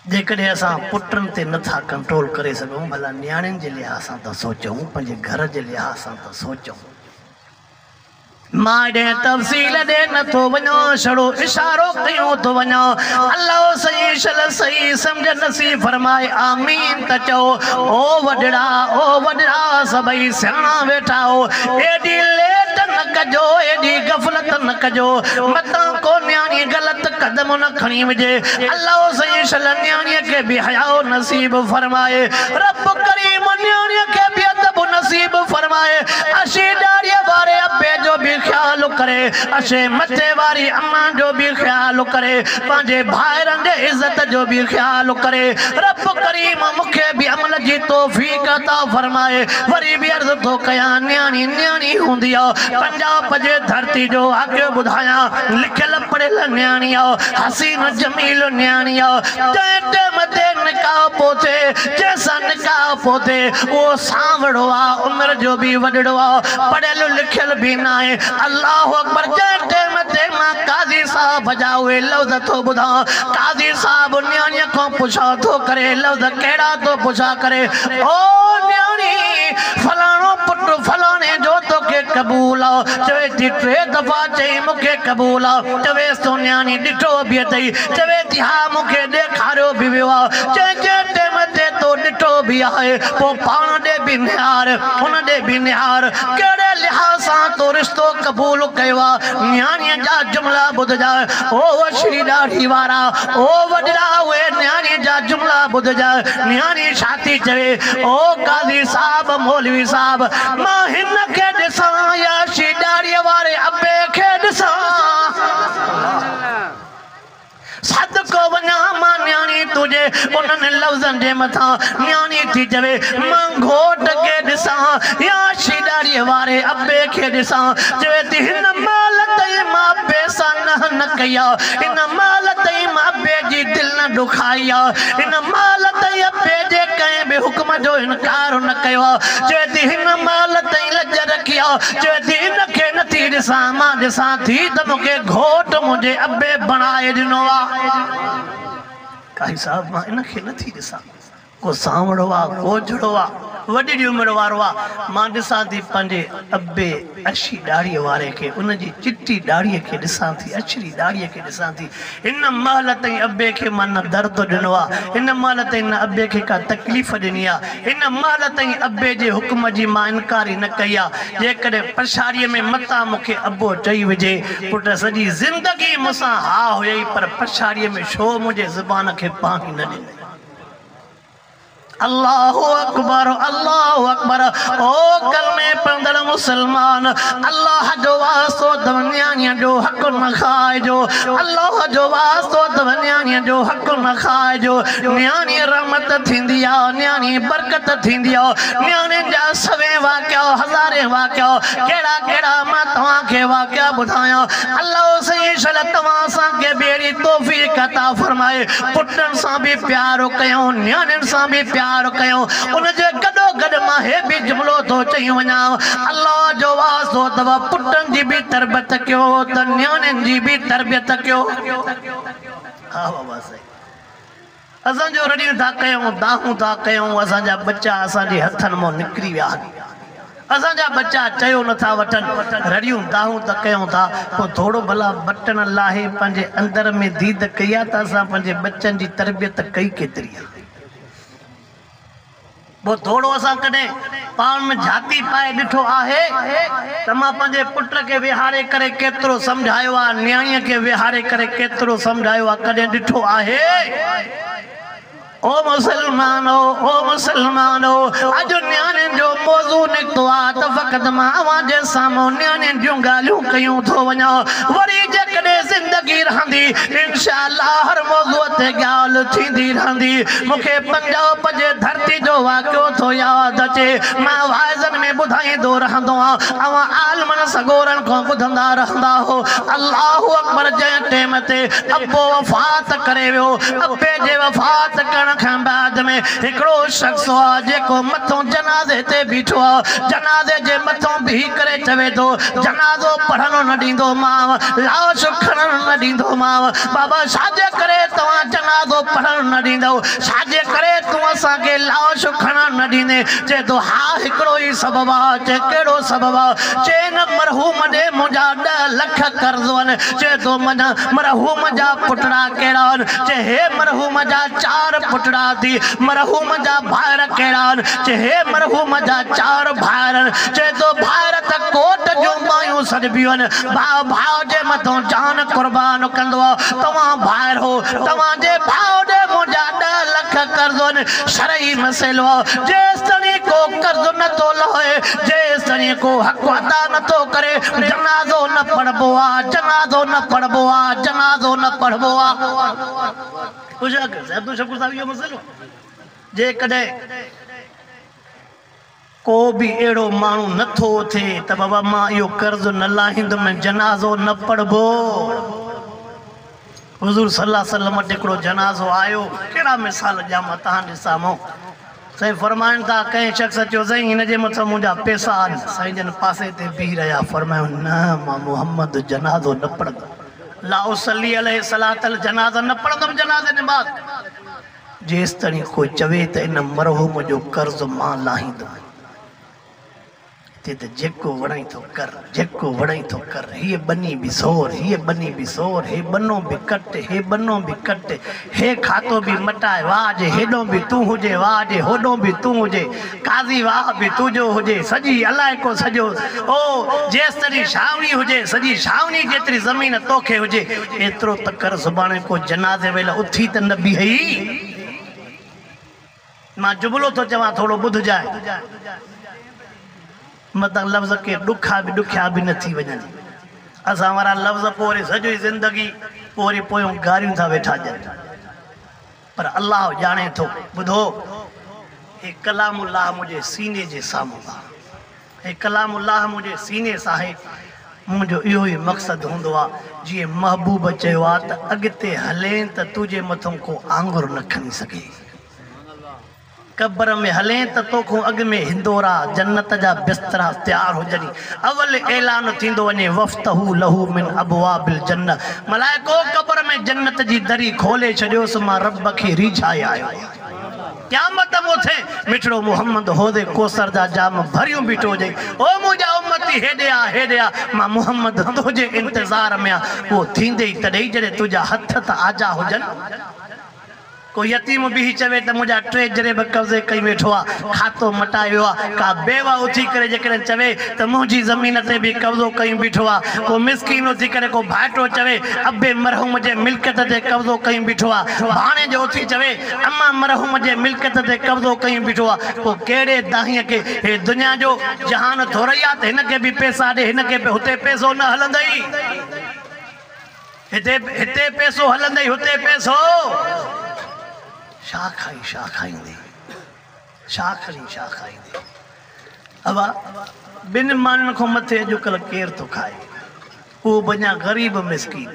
A: جيڪڏهن اسان پٽن تي نه ٿا ڪنٽرول ڪري سگهون ڀلا نياڻين جي لحاظ سان ته سوچون پنهنجي گهر جي لحاظ سان ته سوچون. مان ايڏي تفصيل ڏي نه ٿو وڃان سھڙو اشارو ڪيون ٿو وڃان الله سائين شل سھي سمجھ نصيب فرمائي آمين ته چئو او وڏڙا او وڏڙا سڀئي سياڻا ويٺا او ايڏي ليٽ نه ڪجو ايڏي غفلت نه ڪجو متان ڪو نياڻي غلط قدم نه کڻي وجھي الله سائين شل نياڻيء کي به حياء نصيب فرمائي رب ڪريم نياڻيء کي به ادب نصيب فرمائي اشي ڏاڙهيء واري ابي جو به خيال ڪري اشي مٿي واري اما جو به خيال ڪري پنهنجي ڀائرن جي عزت جو به خيال ڪري رب ڪريم مون کي به عمل جي توفيق عطا فرمائي وري به عرض ٿو ڪيان نياڻي نياڻي هوندي آ پنجاب جي ڌرتي جو واقعو ٻڌايان لکيل پڙهيل نياڻي آء، حسين جميل نياڻي آء، جنهن ٽيم تي نڪاح پهتي، جنهن سان نڪاح پهتي، اهو سانوڙو آء، عمر جو به وڏڙو آء، پڙهيل لکيل به ناهي. الله اڪبر! جنهن ٽيم تي مان قاضي صاحب جا اهي لفظ ٿو ٻڌان، قاضي صاحب نياڻيء کان پڇا ٿو ڪري، لفظ ڪهڙا ٿو پڇا ڪري، او نياڻي! فلاڻو پٽ فلاڻي جو توکي قبول آء، چوي ٿي ٽي دفعا، چئي، مون کي قبول آ. چويس تو نياڻي ڏٺو به اٿئي؟ چوي ٿي، ها مون کي ڏيکاريو به ويو آ. چئي، جنهن ٽيم تي تو ڏٺو به آهي، پوء پاڻ ڏي به نهار، ان ڏي به نهار، ڪهڙي لحاظ سان تو رشتو قبول ڪيو آ؟ نياڻيء جا جملا ٻڌجانء، او وشري ڏاڙهي وارا، او وڏڙا اهي نياڻيء جا جملا ٻڌجانء. نياڻي ڇا ٿي چوي، او قاضي صاحب، مولوي صاحب! مان هن کي ڏسان يا شي ڏاڙهيء واري ابي کي ڏسان. صدقو وڃان مان نياڻي تنهنجي انهن لفظن جي مٿان نياڻي ٿي چوي، مان گهوٽ کي ڏسان يا شي ڏاڙهيء واري ابي کي ڏسان. چوي ٿي هن مهل تائين مان ابي سان ننهن نه ڪئي آ، هن مهل تائين مان ابي جي دل نه ڏکائي آ، هن مهل تائين ابي جي ڪنهن به حڪم جو انڪار نه ڪيو آ، چوي ٿي هن مال تائين لڄ رکي آ، چوي ٿي هن کي نه ٿي ڏسان، مان ڏسان ٿي ته مون کي گهوٽ منهنجي ابي بڻائي ڏنو آ. قاضي صاحب مان ان کي نه ٿي ڏسان، ڪو سانوڙو آ، ڪو جھڙو آ، وڏي ڏي عمر وارو آ، مان ڏسان ٿي پنهنجي ابي. اڇي ڏاڙهيء واري کي ان جي چٽي ڏاڙهيء کي ڏسان ٿي، اڇڙي ڏاڙهيء کي ڏسان ٿي. هن مهل تائين ابي کي مان نه درد ڏنو آ، هن مهل تائين نه ابي کي ڪا تڪليف ڏني آ، هن مهل تائين ابي جي حڪم جي مان انڪار ئي نه ڪئي آ. جيڪڏهن پڇاڙيء ۾ متان مون کي ابو چئي وجهي، پٽ سڄي زندگي مون سان ها هيئي پر پڇاڙيء ۾ ڇو منهنجي زبان کي پاڻي نه ڏنئين؟ الله اڪبر الله اڪبر او ڪلمي پڙهندڙ مسلمان الله جو واسطو اٿم نياڻيء جو حق نه کائجو الله جو واسطو اٿم نياڻيء جو حق نه کائجو نياڻي رحمت ٿيندي آ نياڻي برڪت ٿيندي آ نياڻين جا سوين واقعا هزارين واقعا ڪهڙا ڪهڙا مان توهان کي واقعا ٻڌايان الله سائين شل توهان اسان کي به اهڙي توفيق عطا فرمائي پٽن سان به پيار ڪيون نياڻين سان به پيار ڪيون ان جي گڏو گڏ مان هي به جملو ٿو چئي وڃان الله جو واسطو اٿو پٽن جي به تربيت ڪيو ته نياڻين جي به تربيت ڪيو آ وابا سائين اسان جو رڙيون ٿا ڪيون، دانهون ٿا ڪيون، اسان جا ٻچا اسان جي هٿن مان نڪري ويا آهن. اسان جا ٻچا چيو نه ٿا وٺن، رڙيون دانهون ته ڪيون ٿا، پوء ٿورو ڀلا بٽڻ لاهي پنهنجي اندر ۾ ديد ڪئي آهي ته اسان پنهنجي ٻچن جي تربيت ڪئي ڪيتري آهي؟ پوء ٿورو اسان ڪڏهن پاڻ ۾ جهاتي پائي ڏٺو آهي ته مان پنهنجي پٽ کي ويهاري ڪري ڪيترو سمجهايو آهي، نياڻيء کي ويهاري ڪري ڪيترو سمجهايو آهي، ڪڏهن ڏٺو آهي؟ او مسلمانو! او مسلمانو! اڄ نياڻين جو موضوع نڪتو آهي ته فقط مان اوهان جي سامهون نياڻين جون ڳالهيون ڪيون ٿو وڃان، وري جيڪڏهن زندگي رهندي، انشاء الله هر موضوع تي ڳالهه ٿيندي رهندي. مون کي پنجاب جي ڌرتي جو واقعو ٿو ياد اچي. مان واعظن ۾ ٻڌائيندو رهندو هان. اوهان عالمن سڳورن کان ٻڌندا رهندا هئو. الله اڪبر جنهن ٽيم تي ابو وفات ڪري ويو، ابي جي وفات ڪرڻ کان بعد ۾ هڪڙو شخص آ جيڪو مٿون جنازي تي بيٺو آ. جنازي جي مٿون بيهي ڪري چوي ٿو، جنازو پڙهڻ نه ڏيندو مانء، لاش کڻڻ نه ڏيندو مانء. بابا ڇا جي ڪري توهان جنازو پڙهڻ. نه ڏيندؤ، ڇاجي ڪري تون اسان کي لاش کڻڻ نه ڏيندين؟ چئي ٿو، ها هڪڙو ئي سبب آ. چئي، ڪهڙو سبب آ؟ چئي، ان مرحوم ڏي منهنجا ڏهه لک قرض هن. چئي ٿو، من مرحوم جا پٽڙا ڪهڙا هن؟ چئي، هي مرحوم جا چار پٽڙا اٿي. مرحوم جا ڀائر ڪهڙا هن؟ چئي، هي مرحوم جا چار ڀائر هن. چئي ٿو، ڀائر ته ڪوٽ جون ٻانهيون سڏبيون هن. ڀاء ڀاء جي مٿئون جان قربان ڪندو آ. توهان ڀائر هو. توهان جي ڀاء ڏي منهنجا ڏهه لک قرض آهن، شرعي مسئلو آهي، جيستائين ڪو قرض نه ٿو لاهي، جيستائين ڪو حق ادا نه ٿو ڪري، جنازو نه پڙهبو آهي، جنازو نه پڙهبو آهي، جنازو نه پڙهبو آهي. ڪو به اهڙو ماڻهو نه ٿو اٿي ته بابا مان اهو قرض نه لاهيندم ۽ جنازو نه پڙهبو. حضور صلي الله وسلم وٽ هڪڙو جنازو آيو، ڪهڙا مثال ڏيان مان توهان جي سامهون. سائين فرمائن ٿا ڪنهن شخص چيو سائين هن جي مٿس منهنجا پيسا آهن. سائين جن پاسي تي بيهي رهيا، فرمايائون نه مان محمد جنازو نه پڙهندم، لا اصلي عليه صلاة الجنازة نه پڙهندم جنازي نماز. جيستائين ڪو چوي ته ان مرحوم جو قرض مان لاهيندم تي ته جيڪو وڻئي ٿو ڪر، جيڪو وڻئي ٿو ڪر، هيء ٻني به سور، هيء ٻني به سور، هي ٻنو به ڪٽ، هي ٻنو به ڪٽ، هي کاتو به مٽاء، واء جي هيڏو به تون هجين، واء جي هوڏو به تون هجين. قاضي واهه به تنهنجو هجي سڄي علائقو سڄو او جيستري ڇانوڻي هجي سڄي ڇانوڻي جيتري زمين توکي هجي ايترو ته ڪر سڀاڻي ڪو جنازي ويل اٿي ته نه بيهي مان جملو ٿو چوان ٿورو ٻڌجانء متان لفظ ڪي ڏکا به ڏکيا به نه ٿي وڃن اسان وارا لفظ پوري سڄي زندگي پوري پويون گاريون ٿا ويٺا ڏين پر الله ڄاڻي ٿو. ٻڌو! هي ڪلام الله منهنجي سيني جي سامهون آ. هي ڪلام الله منهنجي سيني سان آهي. منهنجو اهو ئي مقصد هوندو آ. جيئن محبوب چيو آ ته اڳتي هلين ته تنهنجي مٿئون ڪو آڱر نه کڻي سگهي. قبر ۾ هلين ته توکون اڳ ۾ هندورا، جنت، جا بسترا تيار هجني. اول اعلان ٿيندو وڃي وفتحو له من ابواب الجنة ملائڪو قبر ۾ جنت جي دري کولي ڇڏيوس مان رب کي ريجهائي آيو آهيان. قيامت مون ٿي مٺڙو محمد حوض ڪوثر جا جام ڀريون بيٺو هجئي او منهنجا امتي هيڏي آ هيڏي آ مان محمد رضه جي انتظار ۾ آ اهو ٿيندي ئي تڏهي جڏهن تنهنجا هٿ ته آجا هجن. ڪو يتيم بيهي چوي ته منهنجا ٽي جري به قبضي ڪيون ويٺو آ، کاتو مٽائي ويو آ، ڪا بيوه اٿي ڪري جيڪڏهن چوي ته منهنجي زمين تي به قبضو ڪيون بيٺو آ، ڪو مسڪين اٿي ڪري ڪو ڀائٽو چوي ابي مرحوم جي ملڪيت تي قبضو ڪيون بيٺو آ، ڀاڻيجو اٿي چوي امان مرحوم جي ملڪيت تي قبضو ڪيون بيٺو آ، پوء ڪهڙي دانهيء کي هي دنيا جو جهان ٿورئي آ ته هن کي به پيسا ڏي هن کي به هتي پيسو نه هلندئي. هتي پئسو هلندئي هتي پئسو. شاخ کڻي شاخ کائيندي. شاخ کڻي شاخ کائيندي. ابا ٻن ماڻهن کان مٿي اڄڪلهه ڪير ٿو کائي. اهو به اڃا غريب مسڪين.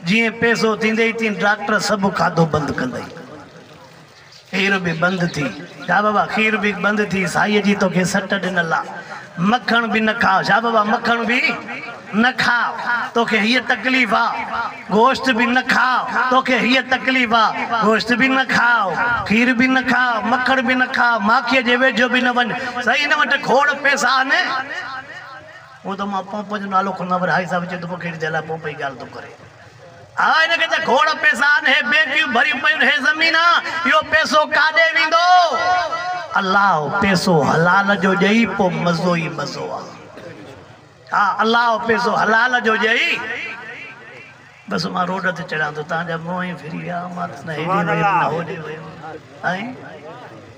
A: جيئن پئسو ٿيندئي تيئن ڊاڪٽر سڀ کاڌو بند ڪندئي. کير به بند ٿي. شاهه بابا کير به بند ٿي سائيء جي توکي سٽ ڏنل آ مکڻ به نه کاء شاهه بابا مکڻ به نه کاء توکي هيء تڪليف آ گوشت به نه کاء توکي هيء تڪليف آ گوشت به نه کاء کير به نه کاء مکڻ به نه کاء ماکيء جي ويجهو به نه وڃ سائين هن وٽ کوڙ پئسا آهن هونء ته مان پمپ جو نالو ڪونه ورهائي صاحب چيو ته پوء ڪهڙي جي لاء پمپ جي ڳالهه ٿو ڪرين. ها هن کي ته کوڙ پئسا آهن، هي بيڪيون ڀريون پيون هي زمينا، اهو پئسو ڪاڏي ويندو؟ الله پئسو حلال جو ڏئي پو مزو ئي مزو آ. ها الله پئسو حلال جو ڏئي. بس مان روڊ تي چڙهان ٿو تان جا منهن ئي ڦري ويا مان ته نه هيڏي ويم نه هوڏي ويم ۽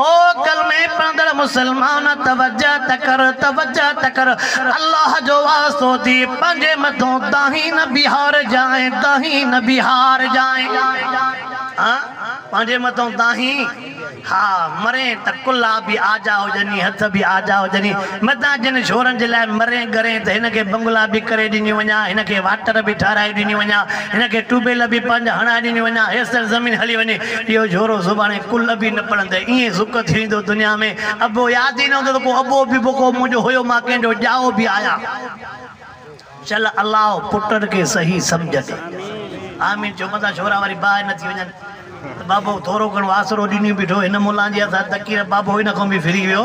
A: او ڪلمي پڙهندڙ مسلمان توجه ته ڪر توجه ته ڪر الله جو واسطو ٿي پنهنجي مٿون دانهين نه بيهارجانء دانهين نه بيهارجانء ها پنهنجي مٿون دانهين ها مرين ته ڪلها به آجا هجني هٿ به آجا هجني متان جن شورن جي لاء مرين ڳرين ته هن کي بنگلا به ڪري ڏنيون وڃان هن کي واٽر به ٺهرائي ڏنيون وڃان هن کي ٽيوبيل به پنهنجا هڻائي ڏنيون وڃان هيستائين زمين هلي وڃي اهو جهورو زباڻي ڪل ابي نه پڙهندء، ايئن زڪ ٿي ويندو دنيا ۾، ابو ياد ئي نه هوندو ته ڪو ابو به ڪو منهنجو هيو مان ڪنهن جو ڄائو به آهيان. چل الله پٽن کي صحيح سمجهه ڏي. آمين چئو متان ڇورا وري باهه نه ٿي وڃن ته بابو ٿورو گهڻو آسرو ڏني بيٺو هن ملان جي هٿان تڪير بابو ان کان به ڦري ويو.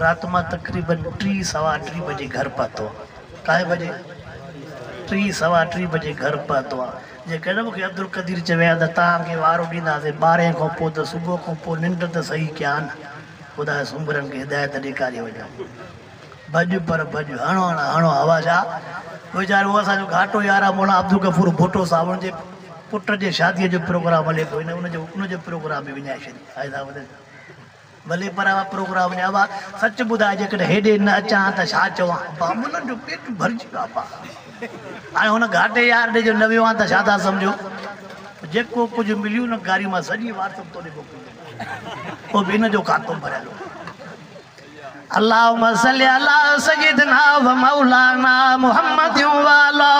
A: رات مان تقريبن ٽي سوا ٽي بجي گهر پهتو آ ڪائين بجي ٽي سوا ٽي بجي گهر پهتو آ جي ڪڏهن مون کي عبدالقدير چوي ها ته توهان کي وارو ڏينداسين ٻارهين کان پوء ته صبح کان پوء ننڊ ته صحيح ڪيا ها نه خداء سومرن کي هدايت ڏيکاري وڃو ڀڄ پر ڀڄ هڻ هڻ هڻ هوا شاهه ويچارو اسان جو گهاٽو يار آ مولانا عبدالغفور ڀٽو صاحب ان جي پٽ جي شادي جو پروگرام هلي پيو هن ان جو ان جو پروگرام به وڃائي ڇڏيو ڀلي پر اھا پروگرام ني ابا سچ ٻڌاء جيڪڏھن ھيڏي نه اچان ھان ته ڇا چوان بابولن جو پيٽ ڀرجي ويو ابا ھاڻي ھن گھاٽي يار ڏي جو نه ويو ھان ته ڇا ٿا سمجھو جيڪو ڪجھ مليو نه گھاري مان سڄي وارثن توڏي موڪلي ڏنو ھو به ان جو کاتو ڀريل ھو. اللهم صل علی سيدنا ومولانا محمد وعلی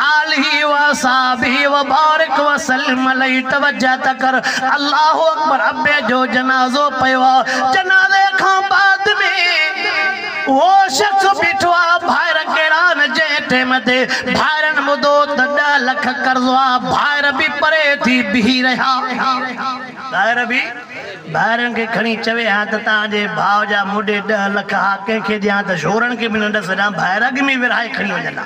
A: آلہ واصحابہ وبارک وسلم عليه توجه ته ڪر الله اڪبر ابي جو جنازو پيو آ جنازي کان بعد ۾ اهو شخص بيٺو آ ڀائر ڪهڙا آهن جنهن ٽيم تي ڀائرن ٻڌو ته ڏهه لک قرضو آ ڀائر به پري ٿي بيهي رهيا ڀائر به ڀائرن کي کڻي چوي ها ته تان جي ڀاء جا موڏي ڏهه لک ها، ڪنهن کي ڏيان ته شورن کي به نه ڏس ڏان، ڀائر اڳ ۾ ئي ورهائي کڻي وڃن ها.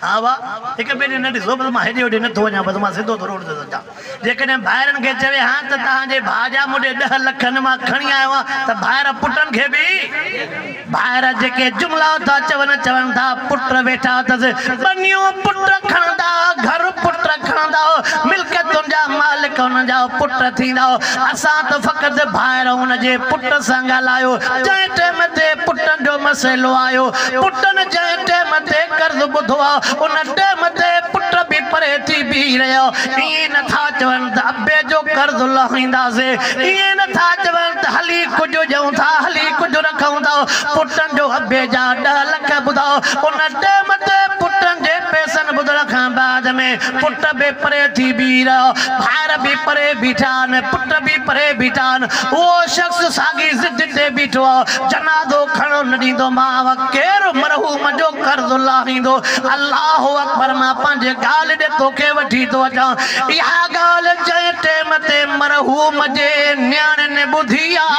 A: ها وا، هڪ ٻئي ڏي نه ڏسو، بس مان هيڏي هوڏي نه ٿو وڃان، بس مان سڌو ٿو روڊ تي ٿو اچان. جيڪڏهن ڀائرن کي چوي ها ته تان جي ڀاء جا موڏي ڏهه لک هن مان کڻي آيو آهيان ته ڀائر پٽن کي به. ڀائر جيڪي جملا ٿا چون، چون ٿا پٽ ويٺا اٿس، ٻنيون پٽ کڻندا، گهر پٽ کڻندا، ملڪيتن جا مالڪ انهن جا پٽ ٿيندا. اسان ته فقط ڀائر هن جي پٽ سان ڳالهايو، جنهن ٽيم تي پٽن جو مسئلو آيو، پٽن جنهن ٽيم تي قرض ٻڌو آ، ان ٽيم تي پٽ به پري ٿي بيهي رهيا، ائين نه ٿا چون. ته ابي جو قرض لاهينداسي، ائين نه ٿا چون ته هلي ڪجهه ڏيون ٿا، هلي ڪجهه رکون ٿا. پٽن جو ابي جا ڏهه لک ٻڌاء. ان ٽئم تي پٽن جي پئسن ٻڌڻ کان بعد ۾ پٽ به پري ٿي بيهي رهيا، ڀائر به پري بيٺا آهن، پٽ به پري بيٺا آهن. اهو شخص ساڳي ضد تي بيٺو آهي، جنازو کڻڻ نه ڏيندو مانء. ڪير مرحوم جو قرض لاهيندو؟ الله اڪبر مان پنهنجي ڳالهه ڏي توکي وٺي ٿو اچان. اها ڳالهه جنهن ٽيم تي مرحوم جي نياڻين ٻڌي آ.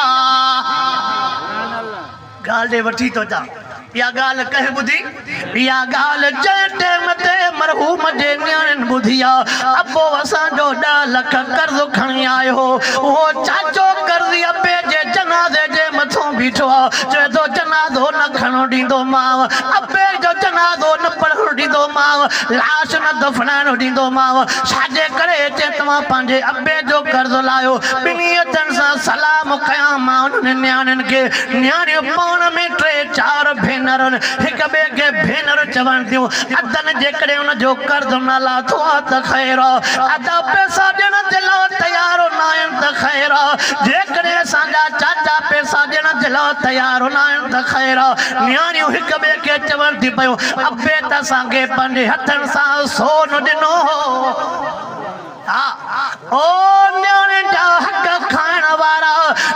A: ڳالهه ڏي وٺي ٿو اچان اها ڳالهه ڪنهن ٻڌي؟ اها ڳالهه جنهن ٽيم تي مرحوم جي نياڻين ٻڌي آ. ابو اسان جو ڏهه لک قرض کڻي آيو هو. اهو چاچو قرضي ابي جي جنازي جي مٿون بيٺو آ. چوي ٿو جنازو نه کڻڻ ڏيندومانء. ابي جو جنازو نه پڙهڻ ڏيندومانء. لاش نه دفنائڻ ڏيندومانء، ڇاجي ڪري جي توهان پنهنجي ابي جو قرض لاهيو. ٻنهي هٿن سان سلام ڪيائون. مان انهن نياڻين کي، نياڻيون پاڻ ۾ ٽي چار ڀينرن، هڪ ٻئي کي ڀينر چوڻ ٿيون، ادن جيڪڏهن ان جو قرض نه لاٿو آهي ته خير آ، ادا پئسا ڏيڻ جي لاء تيار ناهن ته خير آ، جيڪڏهن اسان جا چاچا پئسا ڏيڻ جي لاء تيار ناهن ته خير آ. نياڻيون هڪ ٻئي کي چوڻ ٿي پيون. ابي ته اسان کي پنهنجي هٿن سان سون ڏنو هو. ها او نياڻين جا حق کائڻ وارا،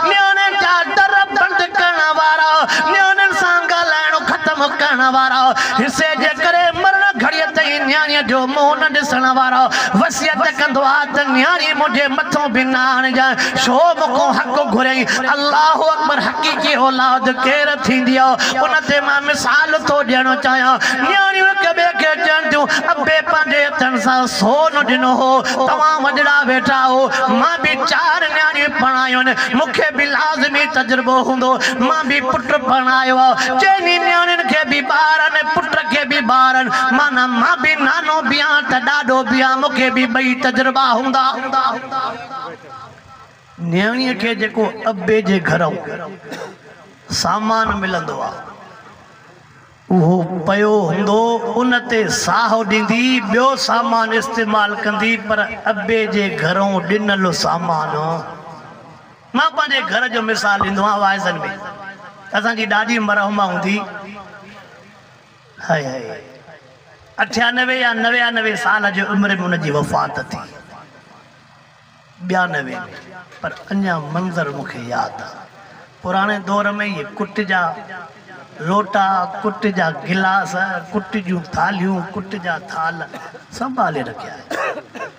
A: نياڻين جا در بند ڪرڻ وارا، نياڻين سان ڳالهائڻ ختم ڪرڻ وارا، حصي جي ڪري مرڻ گهڙيء تائين نياڻيء جو منهن نه ڏسڻ وارا، وصيت ڪندو آ ته نياڻي منهنجي مٿو به نه آڻجانء، ڇو مون کان حق گهريائين؟ الله اڪبر حقيقي اولاد ڪير ٿيندي آ؟ ان تي مان مثال ٿو ڏيڻ چاهيان. نياڻيون هڪ ٻئي کي چون ٿيون، ابي پنهنجي هٿن سان سون ڏنو هو، توهان وڏڙا ويٺا آهو. مان به چار نياڻيون پرڻايون آهن، مون کي به لازمي تجربو هوندو. مان به پٽ پرڻايو آهي. چئني نياڻين کي به ٻار آهن ۽ پٽ کي به ٻار آهن. معنيٰ مان به نانو به آهيان ته ڏاڏو به آهيان، مون کي به ٻئي تجربا هوندا. نياڻيء کي جيڪو ابي جي گهرئون سامان ملندو آ، اهو پيو هوندو، ان تي ساهو ڏيندي، ٻيو سامان استعمال ڪندي، پر ابي جي گهرئون ڏنل سامان. مان پنهنجي گهر جو مثال ڏيندو آهيان، وائيزن ۾ اسان جي ڏاڏي مرحومه هوندي هئي، اٺيانوي يا نويانوي سال جي عمر ۾ ان جي وفات ٿي. ٻيا نه وين پر اڃا منظر مون کي ياد آ پراڻي دور ۾ اهي ڪٽ جا لوٽا ڪٽ جا گلاس ڪٽ جون ٿالهيون ڪٽ جا ٿال سنڀالي رکيا آهن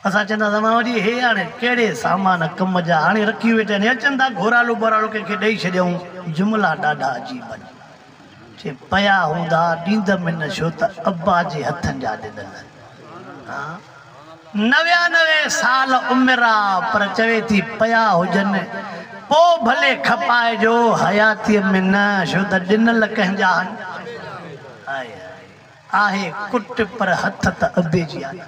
A: اسان چوندا هئاسين ماما جي هي هاڻي ڪهڙي سامان ڪم جا هاڻي رکي ويٺا آهن اچن ٿا گهورالو ٻورالو ڪنهن کي ڏئي ڇڏيائون جملا ڏاڍا عجيب آهن جي پيا هوندا ڏيندم هن ڇو ته ابا جي هٿن جا ڏنل نويانوي سال عمر آ پر چوي ٿي پيا هجن پو ڀلي کپائجو حياتي ۾ نه ڇو ته ڏنل ڪنهن جا هن آهي ڪٽ پر هٿ ته ابي جي آ نه.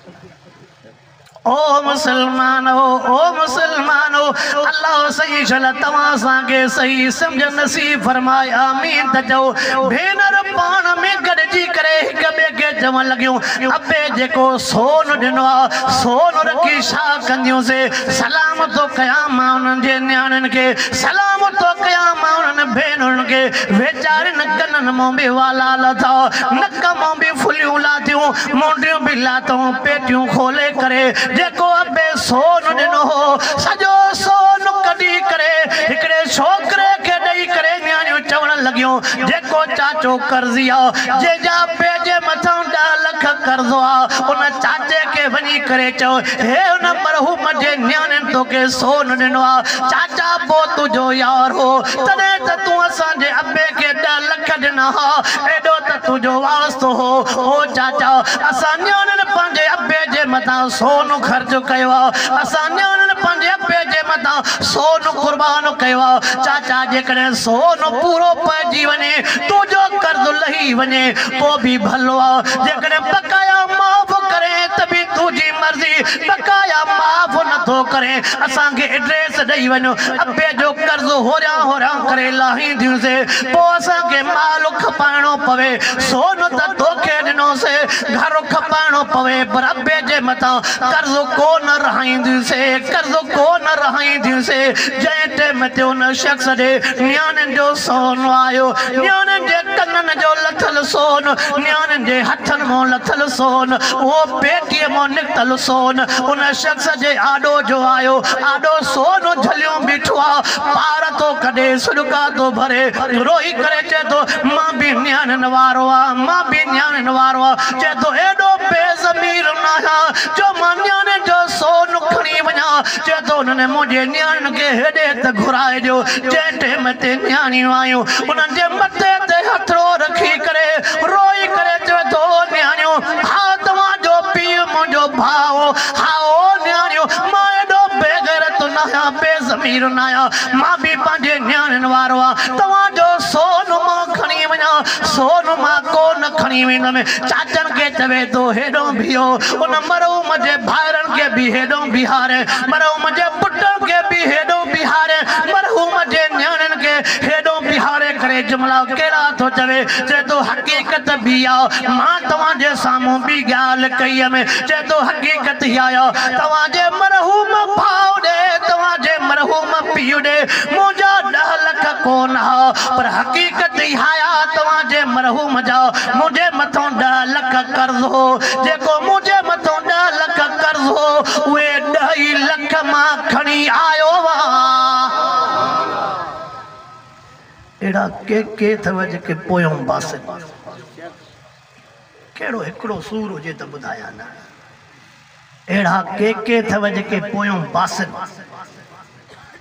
A: او مسلمانو! او مسلمانو! الله سڄي جل توهان سان کي صحيح سمجهه نصيب فرمائي. آمين ته چئو. ڀينر پاڻ ۾ گڏجي ڪري هڪ ٻئي کي چوڻ لڳيون، ابي جيڪو سون ڏنو آ، سون رکي ڇا ڪنديون سي؟ سلام ٿو ڪيان مان انهن جي نياڻين کي، سلام ٿو ڪيان مان انهن ڀينرن کي، ويچارين ڪنن مون به والا لٿا، نڪ مون به ڦليون لاٿيون، مونڊيون به لاتئون پيٽيون کولي ڪري جيڪو ابي سون ڏنو هو سڄو سون ڪڍي ڪري هڪڙي ڇوڪري کي ڏئي ڪري نياڻيون چوڻ لڳيون جيڪو چاچو قرضي آ جنهن جا ابي جي مٿئون ڏهه لک قرضو آ ان چاچي کي وڃي ڪري چئو هي ان مرحوم جي نياڻين توکي سون ڏنو آ چاچا ابو تنهنجو يار هو تڏهن ته تون اسان جي ابي کي ڏهه لک ڏنا ها، ايڏو ته تنهنجو واسطو هو. او چاچا! اسان نياڻين پنهنجي ابي جي مٿان سون خرچ ڪيو آ، اسان نياڻين پنهنجي ابي جي مٿان سون قربان ڪيو آ. چاچا! جيڪڏهن سون پورو پئجي وڃي، تنهنجو قرض لهي وڃي پوء به ڀلو آ، جيڪڏهن بقايا معاف ڪرين ته به تنهنجي مرضي، بقايا معاف نٿو ڪرين، اسان کي ايڊريس ڏئي وڃ. اپي جو قرض هوريان هوريان ڪري لاهينديون سي پو اسان کي مال کپائڻو پوي سون ته توکي ڏنو سي گهر کپائڻو پوي پر اپي جي مٿان قرض ڪو نه رهائينديون سي قرض ڪو نه رهائينديون سي جنهن ٽيم تي ان شخص ڏي نياڻين جو سون آيو نياڻين جي ڪنن جو لٿل سون نياڻين جي هٿن مون لٿل سون اهو پيٽي مون نڪتل سون ان شخص جي آڏو جو آيو آڏو سون جهليون بيٺو آ، پار ٿو ڪڍي، سڏڪا ٿو ڀري، روئي ڪري چئي ٿو، مان به نياڻين وارو آ، مان به نياڻين وارو آ، چئي ٿو ايڏو بي ضمير ناهيان جو مان نياڻين جو سون کڻي وڃان، چئي ٿو انهن منهنجي نياڻين کي هيڏي ته گهرائي ڏيو، جنهن ٽيم تي نياڻيون آيون، انهن جي مٿي تي هٿڙو رکي ڪري، روئي ڪري چوي ٿو، نياڻيون! ها توهان جو پيء منهنجو ڀاء هو. هائو، نياڻيو، مان ايڏو بي غيرت ناهيان، بي ضمير ناهيان. مان به پنهنجي نياڻين وارو آهيان. توهان جو سون مان کڻي وڃان، سون مان ڪو نه کڻي ويندم. چاچن کي چوي ٿو، هيڏهون بيهو. ان مرحوم جي ڀائرن کي به هيڏهون بيهارين. مرحوم جي پٽن کي به هيڏهون بيهارين. مرحوم جي نياڻين کي هيڏهون بيهاري ڪري جملا ڪهڙا ٿو چوي. چوي ٿو، حقيقت به اها مان توهان جي سامهون ٻي ڳالهه ڪئي هيم، چئي ٿو حقيقت اها آهي توهان جي مرحوم ڀاء ڏي، توهان جي مرحوم پيء ڏي منهنجا ڏهه لک ڪونه ها، پر حقيقت اها آهي توهان جي مرحوم جا منهنجي مٿان ڏهه لک قرض هو، جيڪو منهنجي مٿان ڏهه لک قرض هو، اهي ڏهه ئي لک مان کڻي آيو هئان. اهڙا ڪي ڪي اٿئو جيڪي پويون باسط ڪهڙو هڪڙو سور هجي ته ٻڌايان نه اهڙا ڪي ڪي اٿئو جيڪي پويون باسط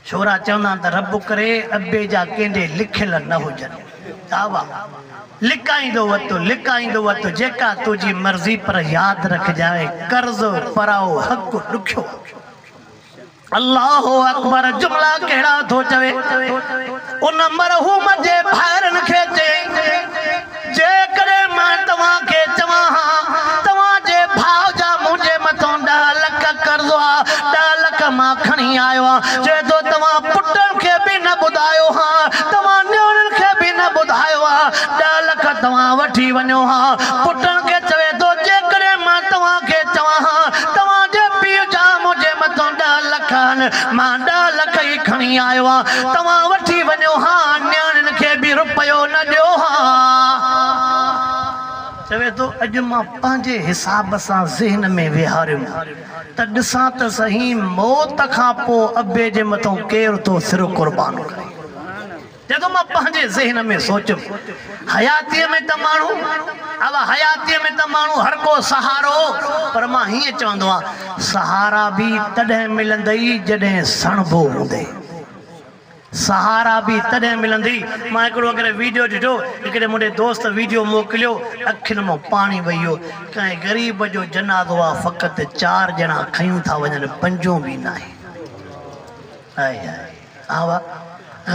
A: ڇورا چوندا آهن ته رب ڪري ابي جا ڪنهن ڏي لکيل نه هجن دعويٰ لڪائيندو وتو لڪائيندو وتو جيڪا تنهنجي مرضي پر ياد رکجانء قرض پرائو حق ڏکيو آ. الله اڪبر جملا ڪهڙا ٿو چوي ان مرحوم جي ڀائرن کي چيائين جيڪڏهن مان توهان کي چوان ها توهان جي ڀاء جا منهنجي مٿان ڏهه لک قرض هئا ڏهه لک مان کڻي آيو آهيان چوي ٿو توهان پٽن کي به نه ٻڌايو ها توهان نياڻين کي به نه ٻڌايو ها ڏهه لک توهان وٺي وڃو ها پٽن کي چوي ٿو جيڪڏهن مان توهان کي چوان ها توهان جي پيء جا منهنجي مٿان ڏهه لک آهن، مان ڏهه لک ئي کڻي آيو آهيان، توهان وٺي وڃو ها، نياڻين کي به رپيو نه ڏيو ها. چوي ٿو، اڄ مان پنهنجي حساب سان ذهن ۾ ويهاريم ته ڏسان ته سهي، موت کان پوء ابي جي مٿان ڪير ٿو سر قربان ڪري. جڏهن مان پنهنجي ذهن ۾ سوچيم حياتيء ۾ ته ماڻهو اوا حياتيء ۾ ته ماڻهو هر ڪو سهارو پر مان هيئن چوندو آهيان سهارا به تڏهن ملندئي جڏهن سڻڀو هوندئي سهارا به تڏهن ملندئي مان هڪڙو اڳڙي ويڊيو ڏٺو هڪڙي منهنجي دوست ويڊيو موڪليو اکين مان پاڻي وهي ويو ڪنهن غريب جو جنازو آهي فقط چار ڄڻا کنيون ٿا وڃن پنجون به ناهي. هائي هائي آء وات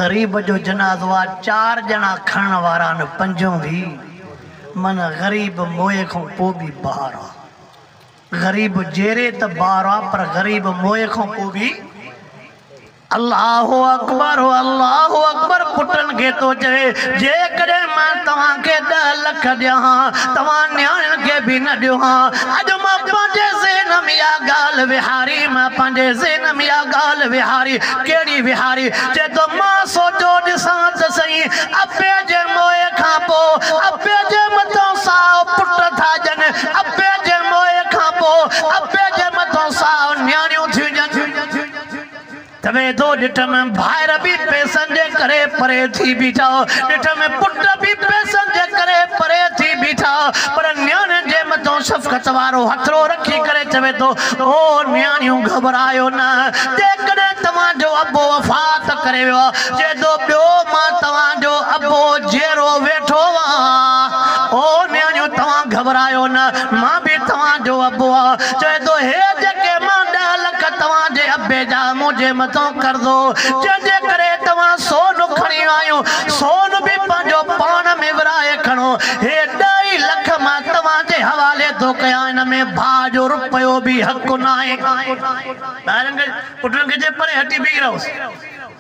A: غريب جو جنازو آ چار ڄڻا کڻڻ وارا نه پنجون وي من غريب موئي کون پو بي بار آ غريب جيري ته بار آ پر غريب موئي کون پو بي الله اڪبر الله اڪبر پٽن کي ٿو چوي جيڪڏهن مان توهان کي ڏهه لک ڏيان ها توهان نياڻين کي به نه ڏيو ها اڄ مان پنهنجي ذهن ۾ اها ڳالهه وهاري ڪريم پنهنجي ذهن ۾ اها ڳالهه ويهاري، ڪهڙي ويهاري؟ چئي ٿو مان سوچيو ڏسان ته سهين، ابي جي موئي کان پوء ابي جي مٿان سائو پٽ ٿا ڄن، ابي جي موئي کان پوء ابي جي مٿان سائو نياڻيون ٿيون ڄن. ويدو ڏٺم ڀائر به پئسن جي ڪري پري ٿي بيٺا، ڏٺم پٽ به پئسن جي ڪري پري ٿي بيٺا، پر نياڻين جي مٿان شفقت وارو هٿڙو رکي ڪري چوي ٿو، او نياڻيون گهٻرايو نه، جيڪڏهن توهان جو ابو وفات ڪري ويو آهي، جيدو ٻيو مان توهان جو ابو جيئرو ويٺو آهيان، او نياڻيون توهان گهٻرايو نه. مان به توهان جو ابو آ. چوي ٿو هي جيڪي مان ڏهه لک توهان جي ابي جا منهنجي مٿان قرضو جنهن جي ڪري توهان سون کڻي ويا آهيون سون به پنهنجو پاڻ ۾ ورهائي کڻو هي ڏهه ئي لک مان توهان جي حوالي ٿو ڪيان ان ۾ ڀاء جو رپيو به حق ناهي. ٻاهرن کي پٽن کي چي پري هٽي بيهي رهوس.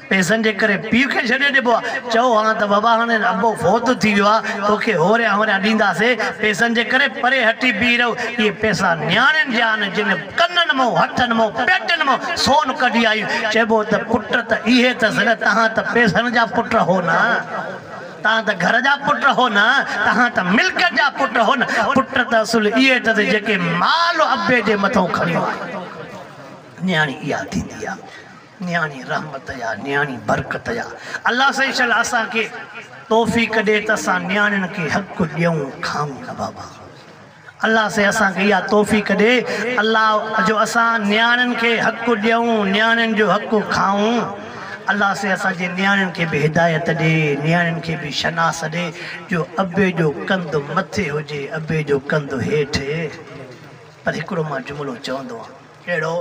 A: پئسن جي ڪري پيء کي ڇڏي ڏبو آ، چئو ها ته بابا هاڻي ابو فوت ٿي ويو آ، توکي هوريان هوريان ڏينداسين، پئسن جي ڪري پري هٽي بيهي رهو، اهي پئسا نياڻين جا آهن، جن ڪنن مئو، هٿن مئو، پيٽن مئو سون ڪڍي آيون، چئبو ته پٽ ته اهي اٿس نه، توهان ته پئسن جا پٽ هو نه، توهان ته گهر جا پٽ هو نه، توهان ته ملڪيت جا پٽ هو نه، پٽ ته اصل اهي اٿس جيڪي مال ابي جي مٿئون کڻيو آهي، نياڻي اها ٿيندي آ. نياڻي رحمت يا نياڻي برڪت يا الله سائين شل اسان کي توفيق ڏي ته اسان نياڻين کي حق ڏيون کانئون نه بابا الله سائين اسان کي اها توفيق ڏي الله جو اسان نياڻين کي حق ڏيون نياڻين جو حق کانئون الله سائين اسان جي نياڻين کي به هدايت ڏي نياڻين کي به شناس ڏي جو ابي جو ڪنڌ مٿي هجي ابي جو ڪنڌ هيٺ پر هڪڙو مان جملو چوندو آهيان اهڙو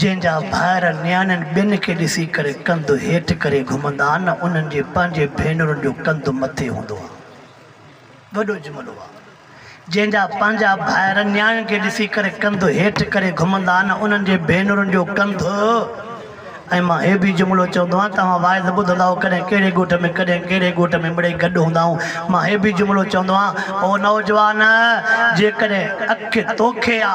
A: جنهن جا ڀائر نياڻين ٻين کي ڏسي ڪري ڪنڌ هيٺ ڪري گهمندا آهن انهن جي پنهنجي ڀينرن جو ڪنڌ مٿي هوندو آهي. وڏو جملو آهي. جنهن جا پنهنجا ڀائر نياڻين کي ڏسي ڪري ڪنڌ هيٺ ڪري گهمندا آهن انهن جي ڀينرن جو ڪنڌ ۽ مان هي به جملو چوندو آهيان توهان واعظ ٻڌندا هئو ڪڏهن ڪهڙي ڳوٺ ۾ ڪڏهن ڪهڙي ڳوٺ ۾ مڙئي گڏ هوندا آهيون مان هي به جملو چوندو آهيان او نوجوان جيڪڏهن اک توکي آ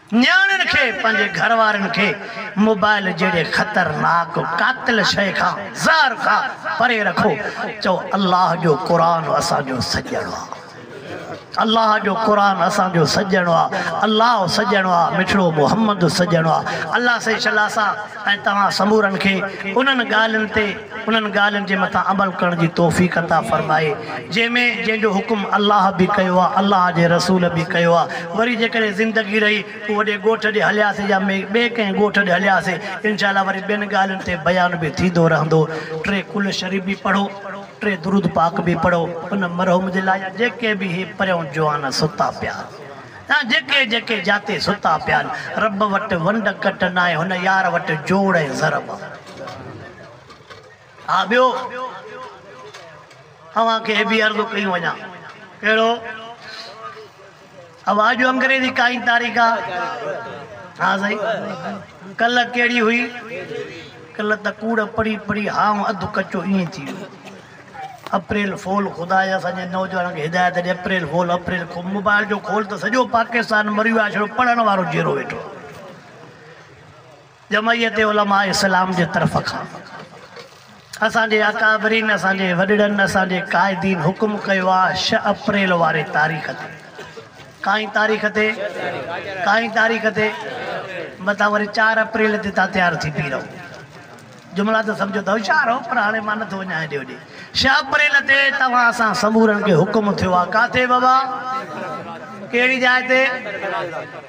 A: نياڻين کي پنهنجي گهر وارين کي موبائل جهڙي خطرناڪ قاتل شيء کان، زهر کان، پري رکو. چئو الله جو قرآن اسان جو سڄڻ آ. الله جو قرآن اسان جو سڄڻ آ. الله سڄڻ آ. مٺڙو محمد سڄڻ آ. الله سائين شلا صاحب. ۽ توهان سمورن کي انهن ڳالهين تي انهن ڳالهين جي مٿان عمل ڪرڻ جي توفيق عطا فرمائي جنهن ۾ جنهن جو حڪم الله به ڪيو آهي الله جي رسول به ڪيو آهي وري جيڪڏهن زندگي رهي پوء وڏي ڳوٺ ڏي هلياسي يا ٻئي ڪنهن ڳوٺ ڏي هلياسي انشاء الله وري ٻين ڳالهين تي بيان به ٿيندو رهندو ٽي ڪل شريف به پڙهو ٽي درود پاڪ به پڙهو ان مرحوم جي لاء يا جيڪي به اهي پريون جوان ستا پيا ها جيڪي جيڪي جاتي ستا پيا آهن. رب وٽ ونڊ ڪٽ ناهي هن يار وٽ جوڙ ۽ ضرب آ. ها ٻيو اوهان کي هي به عرض ڪيون وڃان ڪهڙو اوهان جو انگريزي ڪائين تاريخ آ ها سائين ڪل ڪهڙي هئي ڪل ته ڪوڙ پڙهي پڙهي هانء اڌ ڪچو ائين ٿي ويو. اپريل فول خدا جا اسان جي نوجوانن کي هدايت ڏي اپريل فول اپريل کول موبائل جو کول ته سڄو پاڪستان مريو آهي صرف پڙهڻ وارو جيئرو ويٺو آهي جمعيت علماء اسلام جي طرف کان اسان جي اڪابرين اسان جي وڏڙن اسان جي قائدين حڪم ڪيو آهي شھ اپريل واري تاريخ تي ڪائين تاريخ تي ڪائين تاريخ تي متان وري چار اپريل تي تان تيار ٿي بيهي رهو جملا ته سمجهو ته هوشيار هو پر هاڻي مان نه ٿو وڃان هيڏي هوڏي. شاهه اپريل تي توهان اسان سمورن کي حڪم ٿيو آهي ڪاٿي بابا؟ ڪهڙي جاء تي؟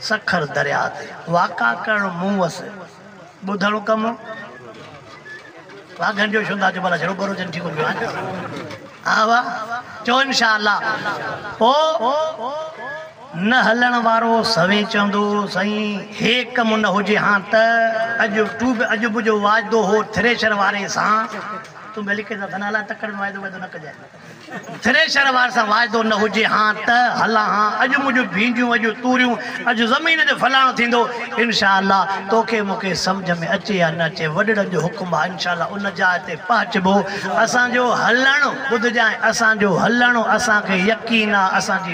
A: سکر درياء تي واڪا ڪرڻ مون وس ٻڌڻ ڪم واگهن جو شوندا جو ڀلا جهڙو ٻرو جن ٺيڪو ڪيو آهي ها واهه چئو انشاء الله پوء نه هلڻ وارو سوين چوندو سائين هي ڪم نه هجي ها ته اڄ تو به اڄ به جو واعدو هو ٿريشر واري سان تون به لکي ته ٿنا لاء تڪڙ ۾ واعدو واعدو نه ڪجانء ٿريشر واري سان واعدو نه هجي ها ته هلان ها اڄ منهنجون ڀينڊيون اڄ توريون اڄ زمين جو فلاڻو ٿيندو انشاء الله توکي مونکي سمجهه ۾ اچي يا نه اچي وڏڙن جو حڪم آ انشاء الله ان جاء تي پهچبو اسان جو هلڻ ٻڌجانء اسان جو هلڻ اسان کي يقين آ اسان جي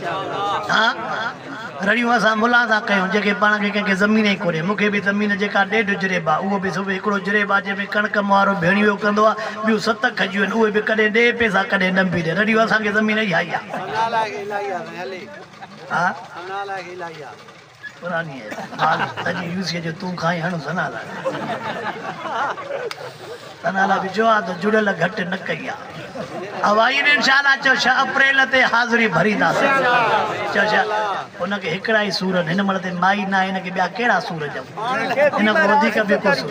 A: ها رڙيون اسان ملان سان ڪيون جيڪي پاڻ کي ڪنهن کي زمين ئي ڪونهي مون کي به زمين جيڪا ڏيڍ جريب آهي اهو به صرف هڪڙو جريب آهي جنهن ۾ ڪڻڪ مهارو ڀيڻيو ويو ڪندو آهي ٻيون ست کجيون آهن اهي به ڪڏهن ڏي پئسا ڪڏهن ڏنڀي ڏي رڙيون اسان کي زمين اهائي آهي پراني اي مال سڄي يوسيء جو تون کائين هڻ ثنا لاء ثنا لاء به چئو ها ته جڙيل گهٽ نه ڪئي آ اوائين انشاء الله چئو ڇهه اپريل تي حاضري ڀرينداسين چئو ڇا ان کي هڪڙا ئي سور هن مڙ تي مائي ناهي هن کي ٻيا ڪهڙا سور چئبو هن کان وڌيڪ به ڪو سور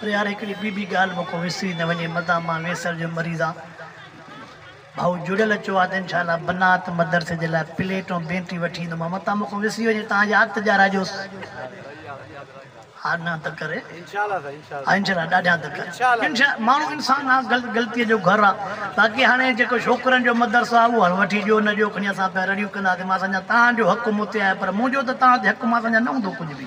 A: پر يار هڪڙي ٻي ٻي ڳالهه مون کان وسري نه وڃي مدام مان ويسر جو مريض آهيان ڀائو جڙيل اچو آ ته انشاء الله بنات مدرسي جي لاء پليٽ ۽ بينٽي وٺي ايندو مان متان مون کان وسري وڃي تان ياد ته ڏياراجوس آڏنهن ته ڪري انشاء الله سائين انشاء الله انشاء الله ڏاڍيان ته ڪري انشاء الله ماڻهو انسان آ غلط غلطي جو گهر آ باقي هاڻي جيڪو ڇوڪرن جو مدرسو آ اهو وٺي ڏيو نه ڏيو کڻي اسان پيا رڙيون ڪنداسين مان سمجهان تان جو حق مون تي آهي پر منهنجو ته تان تي حق مان سمجهان نه هوندو ڪجهه به